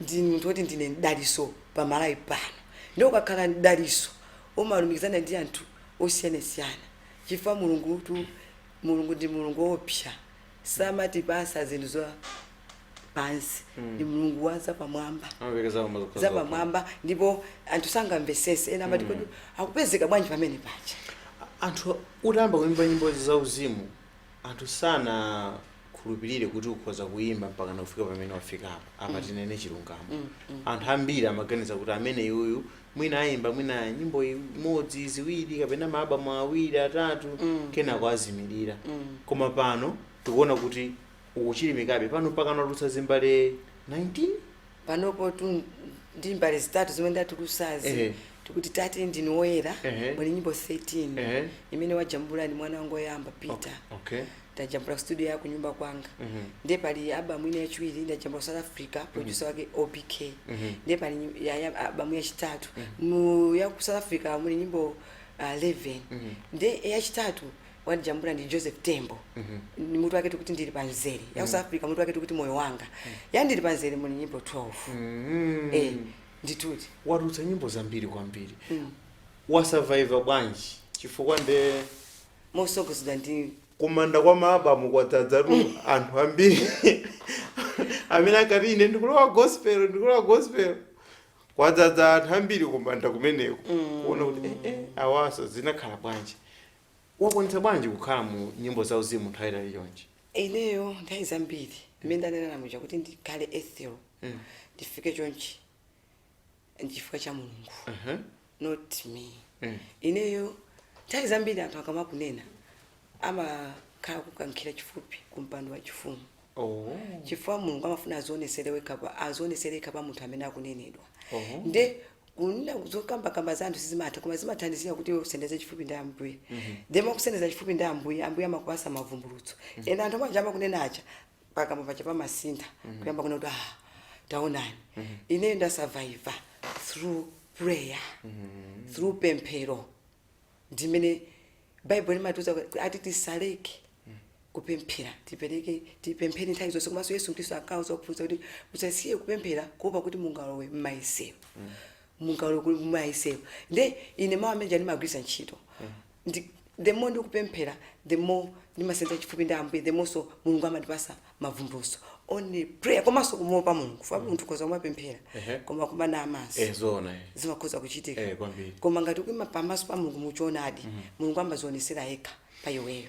ndi munthu oti ndine mdaliso pa malawi pano nde ukakhala mdaliso umalumikizana ndi anthu osiyanasiyana chifukwa mulungutu mulungu ndi mulungu oopsa samatipatsa zinthu za pansi ndi mulungu wa zapamwamba amapereka zakoma zokha zokha. zapamwamba ndipo anthu sangamvetsetse ena amati kodi akupezeka bwanji pamenepaja anthu utayamba kuimba nyimbo zauzimu anthu sana khulupirire kuti ukhoza kuyimba mpakana kufika pamene wafikapo apa tinene chilungamo anthu ambiri amaganiza kuti ameneyuyu mwina ayimba mwina nyimbo imodzi ziwiri kapena maabamu awiri atatu kenako azimilira koma pano tikuona kuti ukuchilimikabe pano mpakana watulutsa zimbale 19 panopotu ndi zimbale zitatu zomwe ndatulutsazi Ehe. tikuti tate ndine woyera Ehe. muli nyimbo 13 Ehe. imene wajambula ndi mwana wangu woyamba peter okay ndajambula ku studio ya kunyumba kwanga ndiye pali album ina yachiwiri ndajambula ku south africa producer wake obk ndiye pali nyi- ya- ya- album yachitatu mu ya ku south africa muli nyimbo uh, 11 ndiye yachitatu wandijambula ndi joseph tembo ndiye mutu wake tikuti ndili panzere ya ku south africa mutu wake tikuti moyo wanga ya ndili panzere muli nyimbo 12 Mm. eh ndithudi watulutsa nyimbo zambiri kwambiri wasurviva bwanji chifukwa nde motsogozedwa ndi ku manda kwa maabamu kwadzadzatu anthu ambiri amene akati ine ndikulowa gospel ndikulowa gospel kwadzadza anthu ambiri ku manda kumeneko kuona kuti eh, eh, awanso zinakhala bwanji wakwanitsa bwanji kukhala mu nyimbo za uzimu nthawi yaitali chonchi ineyo nthawi zambiri mmene ndanenera muja kuti ndikhale ethel ndifike chonchi nchifukwa cha mulungu uh -huh. not me mm. ineyo nthawi zambiri anthu akamakunena amakhala akukukankhira chifupi ku mpando wa chifumu oh. chifukwa mulungu amafuna azionetsera pa munthu amene akunenedwa oh. nde kunena zokambakamba za anthu sizimatha koma zimathandizira kuti usendeze chifupi ndi ambuye mm -hmm. then mukusendeza chifupi ndi ambuye ambuye amakupatsa mavumbulutso mm -hmm. ena anthu omwe aja amakunena aja pakamwa paja pamasintha kuyamba kunena kuti ah taonani ineyo ndasurviva through prayer through pemphero ndimene baibulo limatiuza kuti ati tisaleke kupemphera tipereke tipemphere nthawi zonse komanso yesu khristu ankawauza ophunzira kuti musasiye kupemphera kuopa kuti mungalowe m'mayesero mungalowe kuli m'mayesero nde ine mawu amene ndimagwiritsa ntchito ndi the more ndikupemphera the more ndimasenza chifupi ndi ambuye the more so mulungu amandipasa mavumbuluso only prayer komanso kumuopa mulungu chifukwa munthu ukhoza kumapemphera Ehe. koma kumanama maso eh zoona eh zimakhoza kuchitika Eh, kwambiri. koma ngati ukuyima pamaso pa mulungu muchoonadi mulungu amazionesera yekha pa iweyo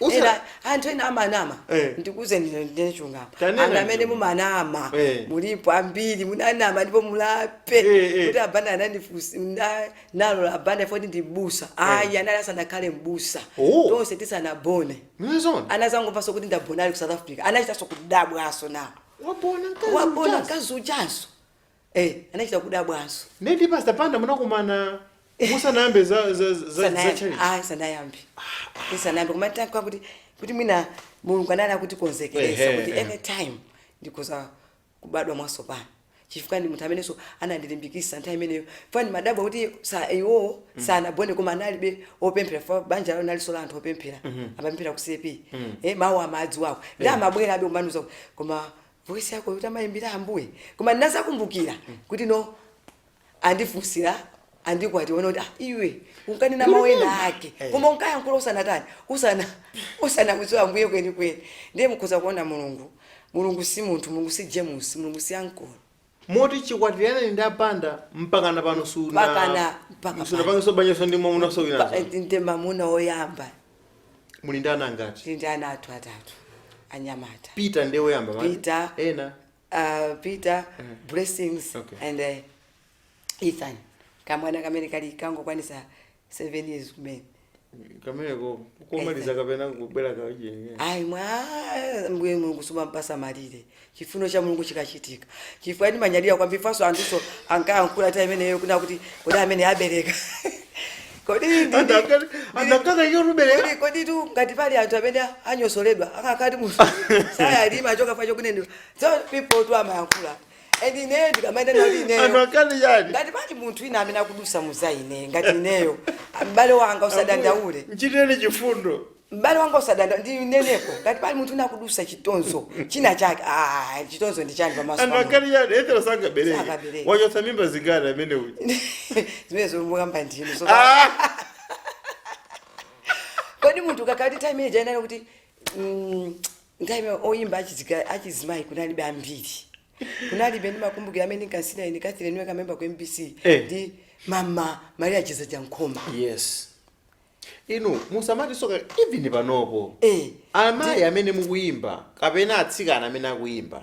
Usa- ena anthu ena amanama Eh. ndikuuzeni lero ndinene chilungamo Tanena anthu amene ndinu. mumanama Eh. mulipo ambiri munanama ndipo mulape Eh, eh. kuti a Banda anandifusira ndinalola a Banda poti ndi mbusa ayi anali asanakhale mbusa Oh. tonse tisanabone Munazaona? anazangomvanso kuti ndabona ali ku south africa anachitanso kudabwanso nawo Wabona mkazi wabona uja zoona. mkazi uchazo Eh, anachita kudabwanso ndiye ndi pastor Banda munakumana musanayambe za za za, za Sanayambe. church Ayi, sanayambe isanayambe koma ndikanena kuti kuti mwina mulungu anali akutikonzekeresa Ehe, kuti ehe. anytime ndikhoza kubadwa mwatsopano chifukwa ndi munthu amenenso anandilimbikisa nthawi imeneyo chifukwa ndimadabwa kuti sa iwowo sanabone koma analibe opemphera chifukwa banja lao nalinso la anthu opemphera amapemphera ku cp eh, mawu amadziwako ndi amabwera abe kumandiuza kuti, koma voice yako yoti uzimayimbira ambuye koma ndinazakumbukira kuti no andifunsira andikwati ona kuti ah, iwe unkanena mawu ena ake Eh. koma unkayankhula usanatani usana usanakudziwa ambuye kwenikweni ndiye mukhoza kuona mulungu mulungu si munthu mulungu si james mulungu si ankolo Moti chikwatiraneni ndi a Banda mpakana pano suna Mpakana- mpaka pano. sunapangenso banjanso ndi mwamunanso Pa- winanso? ndi mamuna woyamba Muli ndi ana angati? ndi ndi ana atatu atatu anyamata Peter ndiye woyamba dzina lake? Peter. Ena. uh, peter blessings Okay. and uh, ethan kamwana kamene kali kangokwanisa seven years kumene kameneko komaliza kapena kubwera kaujeni ayi mwa ambuye mulungu sumampasa malire chifuniro cha mulungu chikachitika chifukwa ndimanyadira kwambiri chifukwanso anthuso ankayankhula nthawi imeneyo kunena kuti kodi amene abereka kodi ndi- ndi- andakaka iyo rubereka kodi- kodi tu ngati pali anthu amene anyozeledwa ankati munthu sayalima choka facho kunene so people tu amayankhula and ineyo ndikamayenda nali anthu ineyo ankati yani ngati pali munthu wina amene akudusa muzaine ngati ineyo m'bale wanga usadandaule nchitireni chifundo m'bale wanga usadanda ndineneko ngati pali munthu wina akudusa chitonzo china chake ah, chitonzo ndi chani pamaso pa anthu pa Mulungu. ankati yani ethera sangabereke Sangabereke. wachotsa mimba zingati amene uyu zimene zomukamba ndinu so Ah! kodi munthu kakati time ija inali kuti mm, nthawi imene oyimba achidzika- achizimayi kunalibe ambiri kunalibe ndi makumbukiro amene ndinkasirira ine Ethel ndiwe kamemba ku mbc Eh. ndi mama maria chidzanja nkhoma yes inu musanati soka even panopo Eh. amayi amene akuyimba kapena atsikana amene akuyimba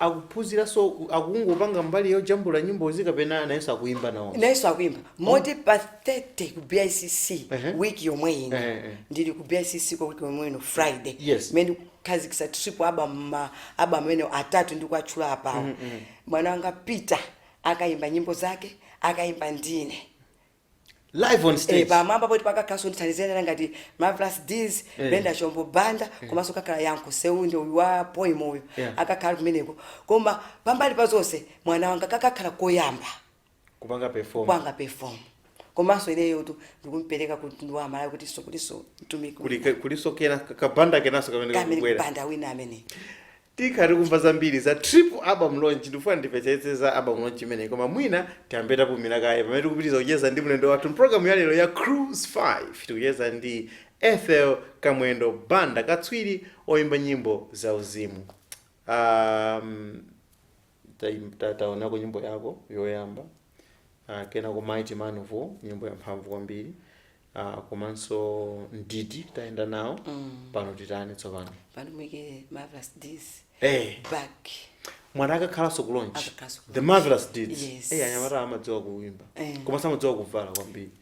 akuphunziranso ku- akungopanga mbali yojambula nyimbozi kapena nayenso akuyimba nawo nayenso akuyimba moti pa 30 ku bicc Ehe. wiki yomwe ino Ehe, ehe. ndili ku bicc kwa wiki yomwe ino friday Yes. mene kukhazikisa triple album album amene atatu ndikuwatchula apawo mwana wanga peter akayimba nyimbo zake akayimba ndine live on Eh, stage pamwamba poti kukakhalanso anthu othandizana ngati marvelous deeds Eh. wendy chombo banda komanso kakhala yankho seunda uyu wa poem uyu Yeah. akakhala kumeneko koma pambali pa zonse mwana wanga kakhala koyamba kupanga perform kupanga perform komanso ineyotu ndikumpereka kumtundu wa malawi kuti so kuti so mtumiki kuli kulisokena kabanda kenanso kamene kamene kakubwera banda wina amene Tikhala tikumva zambiri za triple album launch ndikufuna ndimvetsetse za album launch imeneyi koma mwina tiyambe tapumila kaye pamene tikupitiliza kucheza ndi mlendo wathu mpulogalamu yalero ya Cruise 5 tikucheza ndi Ethel Kamwendo Banda katswiri oyimba nyimbo za uzimu um, Taim- ta- taonako nyimbo yanu yoyamba uh, kenako mighty man of war nyimbo ya mphamvu kwambiri uh, komanso mdidi tayenda nawo pano titani tsopano pano tiike marvelous deeds Eh. paja amenewa akakhalanso ku launch Akakhalanso the marvelous deeds Yes. eh anyamata amadziwa kuimba Eh. koma samadziwa kuvala kwambiri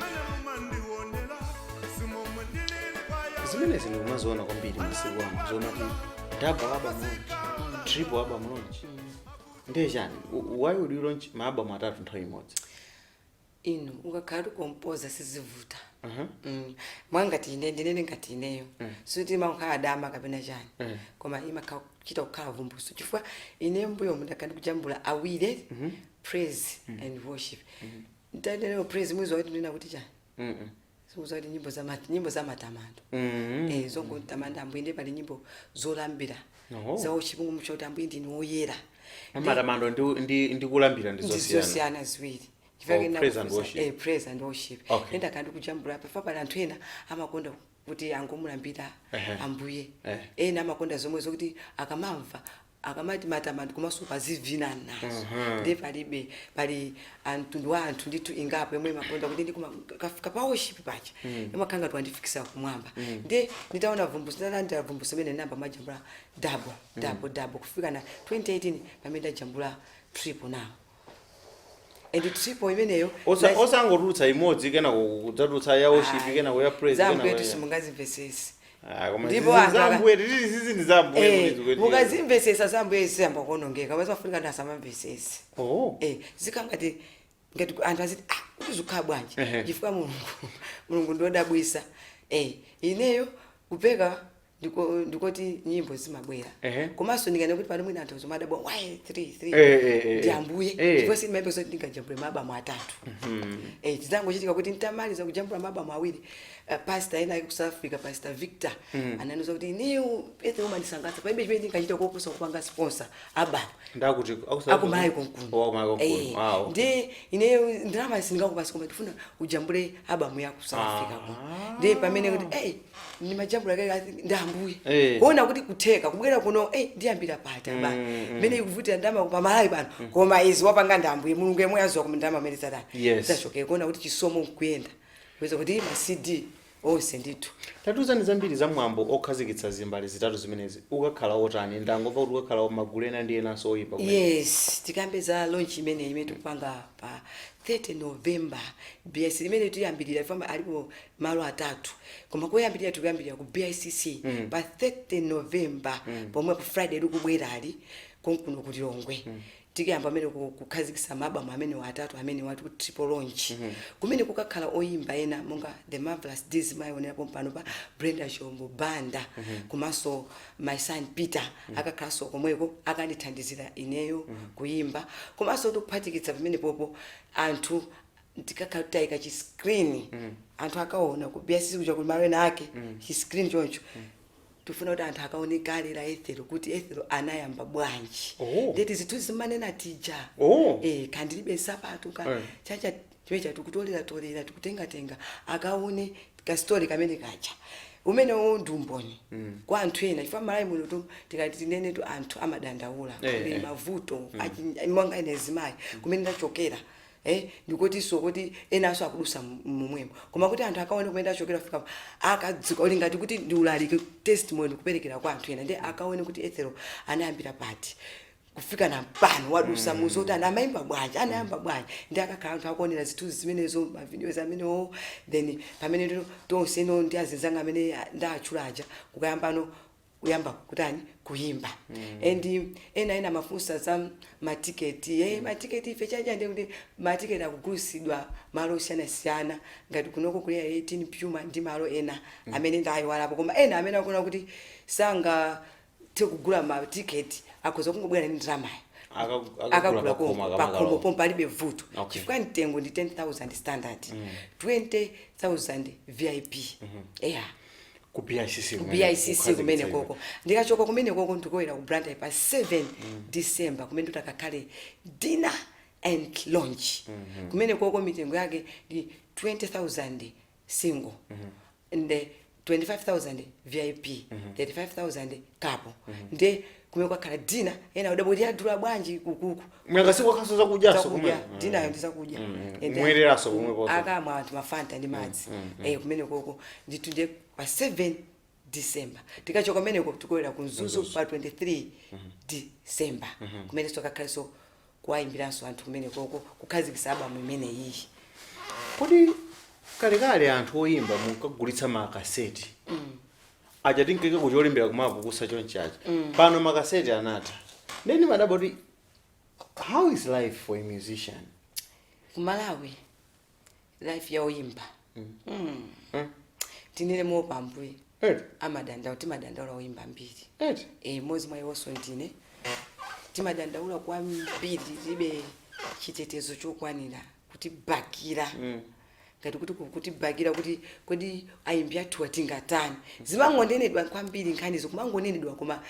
mene mumandiwonela simomwe ndilili kwa yahweh zimenezi ndikumaziona kwambiri masiku ano zomati double album launch triple album launch ndiye chani U- why would you launch maabamu atatu nthawi imodzi inu ukakhala ukukompoza sizivuta Aha. Mm. mwina ngati ine ndinene ngati ineyo sikuti imakhala matama kapena chani koma imakhala kuchita kukhala vumbulutso chifukwa ine mbuyomu ndakhala ndikujambula awiri praise and worship Mukati praise mukutanthauza kuti chani. Mm -mm. Zikutanthauza kuti nyimbo za mat, nyimbo za matamando. Mm -hmm. Eh zongotamanda ambuye ndi pali nyimbo zolambira. No. Za worship zoti ambuye ndinu oyera. Matamando ndi ndi ndi kulambira ndi zosiyana. Ndi zosiyana ziwiri. Chifake amati praise and worship. Eh praise and worship. Okay. Nde ndakhala ndikujambula chifukwa pali anthu ena amakonda kuti angomulambira uh -huh. ambuye. Uh -huh. Ena amakonda zomwe zokuti akamamva akamati matamando komanso ukazivina nazo Mhm. ndiye palibe pali mtundu wa anthu ndithu ingapo yomwe imakonda kuti ndikumakafika pa worship paja imakhala ngati wandifikisa kumwamba ndiye nditaona vumbulutso ndinalandira vumbulutso imene ndinayamba kumajambula double double double kufika na 2018 pamene ndajambula triple now and triple imeneyo Osa- nas- osangotulutsa imodzi kenako kudzatulutsa ya worship Ayi. kenako ya praise Zambuye kenako ya- tisimungazimvesesi Ah, koma Ndipo zizi anthu za aka- Ambuye, titili zizi ndi za Ambuye Eh, kuti zikuti- mukazimvesesa zambuye zisiyamba kuonongeka basi mafunika anthu asamamvesesi Oh. Eh, zikhala ngati ngati ku- anthu aziti ah kuti zikhala bwanji Ehe. chifukwa mulungu mulungu ndiodabwisa Eh, ineyo kupeka ndiko ndikoti nyimbo zimabwera Ehe. komanso ndinganene kuti pano mwina anthu omwe adabwa why 3 3 Eh, eh, eh, ndi ambuye eh. ndipo sindimayembekeza zoti ndingajambule maabamu atatu eh zidangochitika kuti ntamaliza kujambula maabamu awiri uh, pastor ena ali ku South Africa pastor Victor ananiuza kuti inu Ethel mumandisangalatsa palibe chimene ndingachita koposa kupanga sponsor abamu ndati ya ku Malawi konkuno ya ku Malawi konkuno wow ndi ineyo ndalama sindikupatsa koma ndifuna ujambule abamu yaku South Africa kuno ndi pamene kuti eh ndimajambula kale I think ndi ambuye Eh. kuona kuti kutheka kubwera kuno eh ndiyambira pati albamu Mm, mm. mene ikuvutira ndalama pa malawi pano koma izi wapanga ndi ambuye mulungu yemwe aziwa koma ndalama amene satani Yes. zachokera kuona kuti chisomo nkuyenda kuweza kuti ma cd onse ndithu tatiuzani zambiri za mwambo okhazikitsa zimbale zitatu zimenezi ukakhala otani ndangomva kuti ukakhala wamagulu ena ndi enanso oyimba kumene. yes tikambe za launch imene imene tikupanga pa 30 november bs imene tiyambirira fama alipo malo atatu koma koyambirira tikuyambirira ku bicc pa 30 november pompa friday likubwerali konkuno ku lilongwe tikuyamba amene ku- kukhazikitsa maabamu amenewo atatu amene tati kuti triple launch kumene kukakhala oyimba ena monga the marvelous Deeds mayionera pompano pa brenda chombo banda komanso my son peter akakhalanso komweko akandithandizira ineyo kuyimba komanso tikuphatikiza pamenepopo anthu tikakhala titi taika chi screen anthu akaona ku BICC kuja kuli malo ena ake chi screen choncho tifuna kuti anthu akaone kale la Ethel kuti Ethel anayamba bwanji Oh. ndeti zinthu timanena tija Oh. eh kandilibe nsapato ka Eh. chacha chimenecho tikutolera tolera tikutengatenga akaone ka story kamene kaja umene uwo ndi umboni kwa anthu ena chifukwa Malawi muno tu tikati tinene tu anthu amadandaula Eh, kuli eh. mavuto achi- monga ine mzimayi kumene ndachokera ee ndikotinso kuti enanso akudutsa momwemo koma kuti anthu akaone kumene tachokera kufika apa akadziwa ali ngati kuti ndi ulaliki testimony kuperekera kwa anthu ena ndi akaone kuti Ethel anayambira pati kufika nawo pano wadutsa mm. mu zotani amayimba bwanji anayamba bwanji ndi akakhala anthu akuonera zinthu zimenezo mavideos amenewo then pamene ndino tonse no ndi azinzanga amene a- ndaatchula aja kukayambano kuyamba kutani kuyimba and ena ena amafunsa za matiketi e matiketi ife chabe ndi kuti matiketi akugulitsidwa malo osiyanasiyana ngati kunoko ku area 18 pyuma ndi malo ena amene ndayiwalapo koma ena amene akuona kuti sangathe kugula matiketi akhoza kungobwera ndi ndalamayo Akagu- akagula akagula pakhomo, konko akakagula pakhomo konko. pomwe palibe vuto Okay. chifukwa mtengo ndi 10000 standard 20000 vip eya ku bicc ku kumene bicc kukhazikitsa kumene iwe. koko ndikachoka kumene koko ndikulowera ku blantyre pa 7 december kumene nditakakhale dinner and launch kumene koko mitengo yake ndi 20000 single and 25000 vip 35000 couple nde kumene kukakhala dinner ena adabwa kuti adula bwanji ukuku Mwakuti kukakhalaso zakudyaso zakudya kumene. dinner yo ndi zakudya Mm, mm. And Kumwereranso then, kumwe konse. akamwa anthu mafanta ndi madzi eh kumene koko ndithu ndiye pa 7 december tikachoka kumeneko tikulowera ku mzuzu pa 23 december kumeneso kukakhaleso kuwayimbiranso anthu kumenekoko kukhazikitsa album imeneyiyi kodi kalekale anthu oyimba munkagulitsa makaseti aja tinkakakucholimbira koma lokusa chonchacha pano makaseti anatha nde nimadabwa kuti how is life for a musician kumalawi life ya oyimba Mm. Mm. tinene moopa ambuye Eti. amadandaula timadandaula oyimba ambiri Eti. e, mmodzi mwa iwonso ndine timadandaula kwambiri tilibe chitetezo chokwanira kutibakira Mm. ngati kuti ku- kutibakira kuti kodi oyimba athu atingatani zimangonenedwa kwambiri nkhanizo kumangonenedwa koma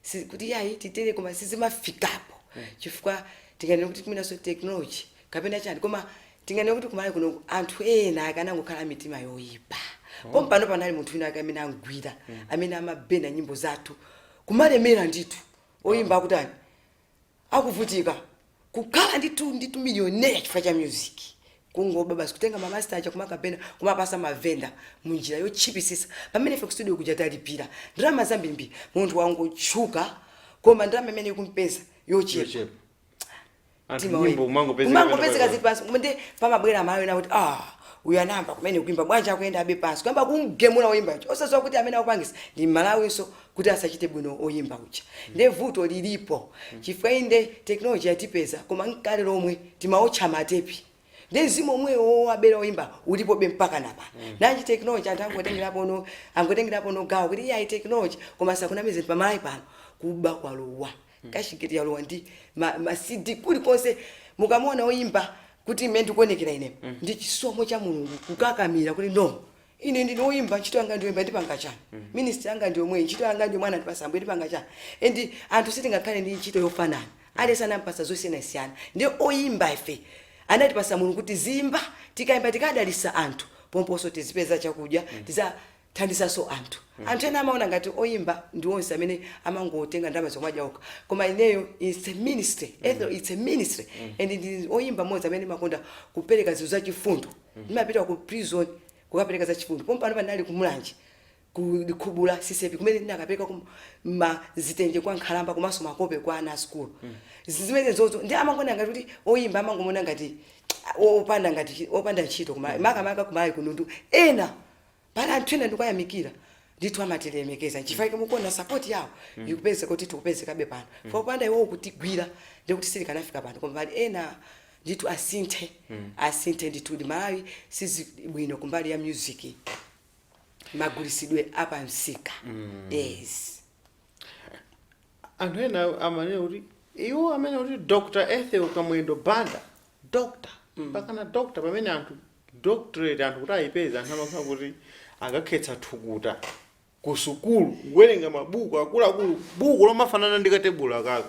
si- kuti yayi titere koma sizimafikapo chifukwa tinganene kuti tinenenso technology kapena chani koma tinganene kuti kumalawi kuno anthu ena akanangokhala ndi mitima yoyipa pompano panali munthu wina ake amene amugwira amene amaburner nyimbo zathu kumalemera ndithu oyimba akutani akuvutika kukhala ndithu ndithu millionaire chifukwa cha music kungoba basi kutenga ma master aja kumakaburner kumapatsa mavenda mu njira yotchipitsitsa pamene ife ku studio kuja talipira ndalama zambirimbiri munthu ungotchuka koma ndalama imene ukupeza yochepa Yochepa. Anthu Mtima nyimbo wina. umangopezeka Umangopezeka pena uli pansi koma ndi pamabwera mawu ena kuti ah uyu anayamba kumene kuimba bwanji akuyendabe pansi kuyamba kumgemula woimbayo osadziwa kuti amene akupangisa ndi mmalawi nso kuti asachite bwino oyimba uja nde vuto lilipo chifukwa inde technology yatipeza koma ndi kale lomwe timaotcha matepi nde mzimu womwewo wowabera oyimba ulipobe mpaka pano nanji technology anthu angotengerapo angotengerapo gawo kuti iyayi technology koma asakunamize pa malawi pano kuba kwalowa cashgate yalowa ndi ma, ma cd kulikonse mukamona oyimba kuti mmene ndikuonekera ine ndi chisomo cha mulungu kukakamira kuti no Ine ndine oyimba ntchito yanga ndiyoyimba ndimapanga chani? Ministry yanga ndiyomweyi ntchito yanga ndiyomwe anandipatsa ambuye ndimapanga chani? And anthu sitingakhale ndi ntchito yofanana aliyense anampatsa zosiyanasiyana nde oyimba ife anatipatsa mulungu kuti tiziyimba tikayimba tikadalitsa anthu pomponso tizipeza chakudya tizithandizanso anthu. Anthu ena amaona ngati oyimba ndi onse amene amangotenga ndalama nkumadya okha koma ineyo its a ministry Ethel its a ministry and ndili oyimba mmodzi amene ndimakonda kupeleka zinthu zachifundo. Ndimapita ku prison kukapereka za chifundo. Pompano pano ndinali ku Mulanje ku Likhubula CCAP kumene ndinakapereka mazitenje kwa nkhalamba komanso makope kwa ana a sukulu. Zimenezozo nde amangoona ngati kuti oyimba amangomuona ngati opanda ngati chi- opanda ntchito koma makamaka kumalawi kuno ndi ena pali anthu ena ndikuwayamikira ndithu amatilemekeza nchifukwa chake mukuona sapoti yawo ikupezeka kuti tikupezekabe pano fo kupanda iwowo kutigwira ndikuti sitikanafika pano koma pali ena ndithu asinthe asinthe ndithudi malawi sizibwino kumbali ya music magulisidwe apamsika yes anthu ena amanena kuti iwo amene akuti dr ethel kamwendo banda dr pakana dr pamene anthu doctorate anthu kuti ayipeze anthu amakhala kuti akakhetsa thukuta ku sukulu kuwerenga mabuku akuluakulu buku lomafanana ndi katebulo akaka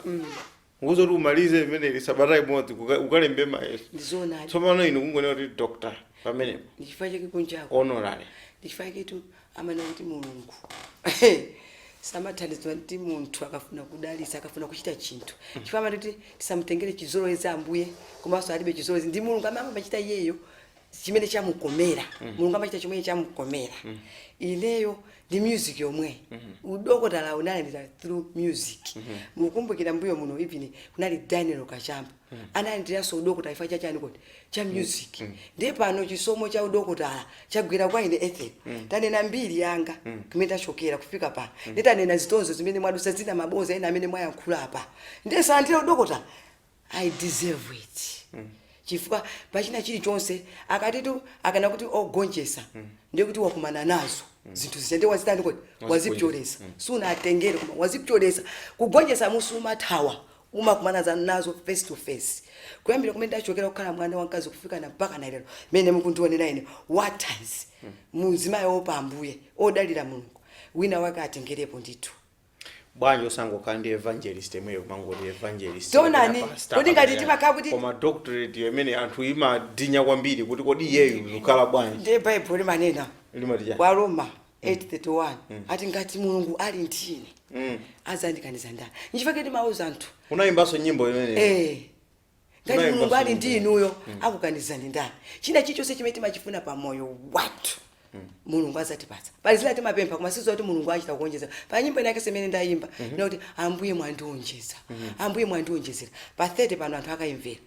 nkukuuza kuti umalize limeneli sabata imodzi kuka- ukalembe mayeso ndi zoonadi tsopano inu kungonena kuti doctor pamenepo ndichifukwa chake kunjako honorary ndichifukwa chaketu amanena kuti mulungu samathandizidwa ndi munthu akafuna kudalitsa akafuna kuchita chinthu chifukwa amati kuti tisamutengere chizolowezi ambuye komanso alibe chizolowezi ndi mulungu amene amachita iyeyo chimene chamukomera mulungu amachita chimene chamukomera ineyo ndi music yomweyi udokotala ndinalandira through music mukumbukira mbuyo muno even kunali daniel kachamba analandiranso udokotala chifukwa cha chani kodi cha music ndiye pano chisomo cha udokotala chagwera kwa ine ethel ndanena mbiri yanga kumene ndachokera kufika pano ndiye ndanena zitonzo zimene ndadutsa zina maboza ena amene mwayankhula apa ndiye ndalandira udokotala i deserve it chifukwa pachina chilichonse akatitu akanena kuti ogonjetsa ndiye kuti wakumana nazo zinthu zija ndiye wazitani kodi wazipyoletsa sunatengere koma wazipyoletsa kugonjetsa sumathawa umakumana nazo nazo face to face kuyambira kumene ndachokera kukhala mwana wamkazi kufikana mpaka na lero mene mukundioneramu ine wankazi mzimayi oopa ambuye odalira mulungu wina wake atengerepo ndithu bwanji osangokhala ndi evangelist yemweyo kumangoti evangelist Tionani, kapena pastor, kodi ngati kapena- timakhala kuti- koma doctorate yo imene anthu imadinya kwambiri kuti kodi iyeyu akukhala bwanji ndiye baibulo limanena limati chani kwa aroma 831 mm. akuti ngati mulungu ali ndi ine mm. azandikaniza ndani nchifukwa chake timauza anthu unayimbanso nyimbo imene eh ngati mulungu ali ndi inuyo mm. akukanizani ndani china chichonse chimene timachifuna pa moyo wathu mm. mulungu azatipatsa pali zina timapempha koma sizo kuti mulungu achita kuonjeza pa nyimbo inayake imene ndayimba mm -hmm. kuti ambuye mwandionjeza mm -hmm. ambuye mwandionjezera pa 30 pano anthu akayimvera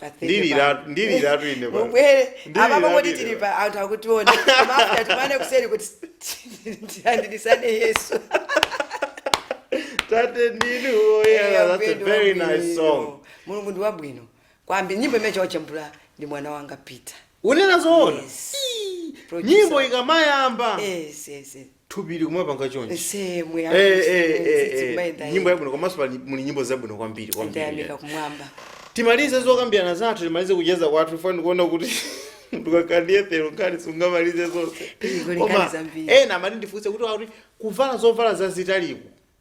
Pathetic Ndilira- man. ndiliratu ine pa- mubwere Ndilira- apapo kuti ndilira. tili pa anthu akutiona koma after tikumane kuseri kuti tilandirisane yesu tate ndinu woyera that's a very nice song mulungu ndi wabwino kwambiri nyimbo imene chawachambula ndi mwana wanga peter unena zoona Yes. Ii, Producer. nyimbo ikamayamba yes yes yes thupi likumapanga chonchi Ese mwe Eh, eh, eh, eh, kumayenda nyimbo yenda. yabwino komanso pali- muli nyimbo zabwino kwambiri kwambiri Ndayamika kumwamba. timalize zokambirana zathu timalize kucheza kwathu ife ndikuona kuti ukakhala ndi ethel nkhani sungamalize zonse Iko ni nkhani koma zambiri. ena amati ndifunse kuti akuti kuvala zovala zazitaliku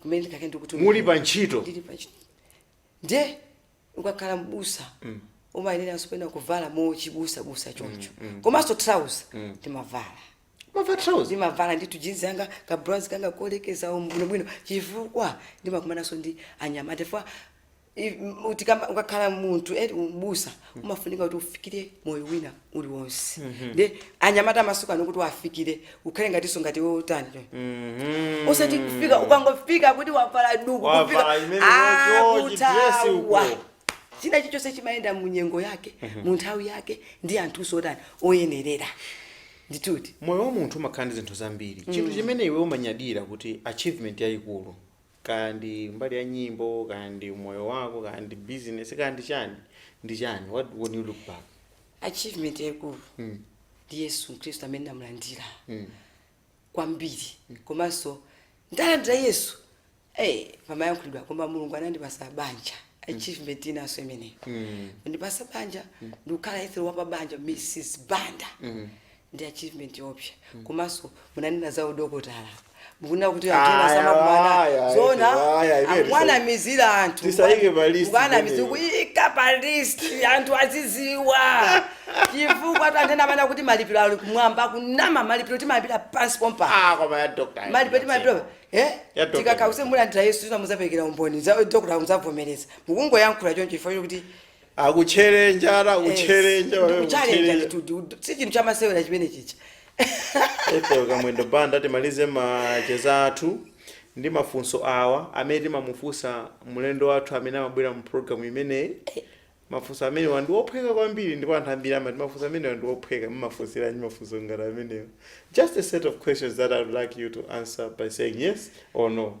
kumene ndikakhala ndikutumikira muli pa ntchito ndili pa ntchito ndiye ukakhala mbusa umayeneranso pena kuvala mochibusabusa choncho komanso trouser ndimavala mava trouser ndimavala ndithu jinzi yanga ka blouse kanga kolekezera bwinobwino chifukwa ndimakumananso ndi anyamata chifukwa I- m- utikamba- ukakhala munthu eti ubusa umafunika kuti ufikire moyo wina uli wonse ndi anyamata amasuku ano kuti uwafikire ukhale ngatinso ngati iwo utani Mhm. usati kufika ukangofika kuti wavala duku Wavala kufika- imene Ah, yocho, kuthawa. chidresi uko. china chilichonse chimayenda mu nyengo yake mu nthawi yake ndi anthuso otani oyenerera ndikuti moyo wa munthu umakhala ndi zinthu zambiri chinthu chimene iwe umanyadira kuti achievement yayikulu kaya ndi mbali ya nyimbo kaya ndi umoyo wako kaya ndi business kaya ndi chani ndi chani what when you look back achievement yaikulu mm. ndi yesu khristu amene ndamlandira Mm. kwambiri komanso ndalandira yesu eh pamayankhulidwa koma mulungu anandipasa banja achievement inanso imeneyo Mm. anandipasa banja ndikukhala ethel wa pabanja mrs banda ndi achievement yoopsa komanso munanena za udokotala apa mukunena kuti anthu ena Aya, samakumana aya, zona aya, aya, ife akumanamizira anthu tisaike pa list mukanamizira imeneyo. kuyika pa list anthu aziziwa chifukwa tu anthu ena amanena kuti malipiro ali kumwamba kunama malipiro timalipira pansi pompa Ah, koma ya doctor. malipiro timalipira eh Ya doctor. tikakuuze mulandira yesu zina muzapereka umboni za dokota muzavomereza mukungoyankhula choncho chifukwa kuti akutcherenja ata kutcherenja pamene ndikutcherenja kutcherenja. nditudi si chinthu chamasewera chimene chicha Ethel Kamwendo Banda timalize macheza athu ndi mafunso awa amene timamufunsa mlendo wathu amene amabwera mu program imeneyi. Mafunso amenewa ndi ophweka kwambiri ndipo anthu ambiri amati mafunso amenewa ndi ophweka mumafunsira ndi mafunso ngati amenewa. Just a set of questions that I would like you to answer by saying yes or no.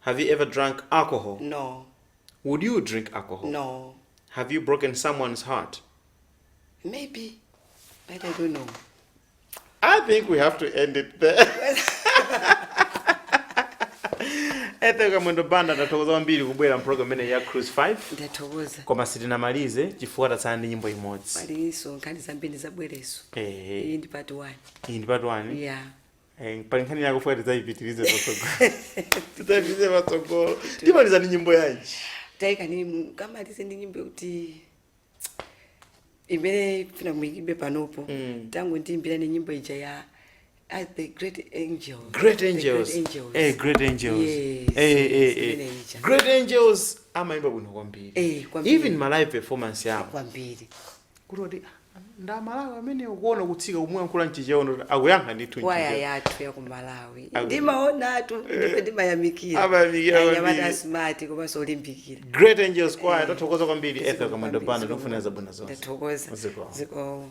Have you ever drunk alcohol? No. Would you drink alcohol? No. Have you broken someone's heart? Maybe. But I don't know. I think we have to end it there. Ethel Kamwendo Banda tathokoza kwambiri kubwera mpulogalamu imeneyi ya Cruise 5 Ndathokoza. koma sitinamalize chifukwa tatsala ndi nyimbo imodzi. Palinso nkhani zambiri adzabwerenso. Eh, Iyi ndi part 1. iyi ndi part one. Yeah. Eh, pali nkhani yakufuna tidzayipitirize patsogolo tidzayipitirize patsogolo timaliza ndi nyimbo yanji taikani mukamalize ndi nyimbo kuti imene mufuna muyimbe panopo mm. tangondiyimbirani nyimbo ija ya as the great angels great angels the great angels, eh, great angels. Yes, eh, eh, eh. great angels amayimba bwino kwambiri eh, even ma live performance yao kwambiri kuti oti "Ah, ndi amalawi amenewo kuona kutsika kumuyankhula mchichewa n'kuti akuyankha ndithu waya mchichewa yathu ya ku malawi Aku- ndimaonatu ndife ndimayamikira Amayamikira anyamata kwambiri. a smart komanso olimbikira great angels choir tathokoza kwambiri ethel kamwendo banda tikufunira zabwino zonse ndathokoza Zikomo. zikomo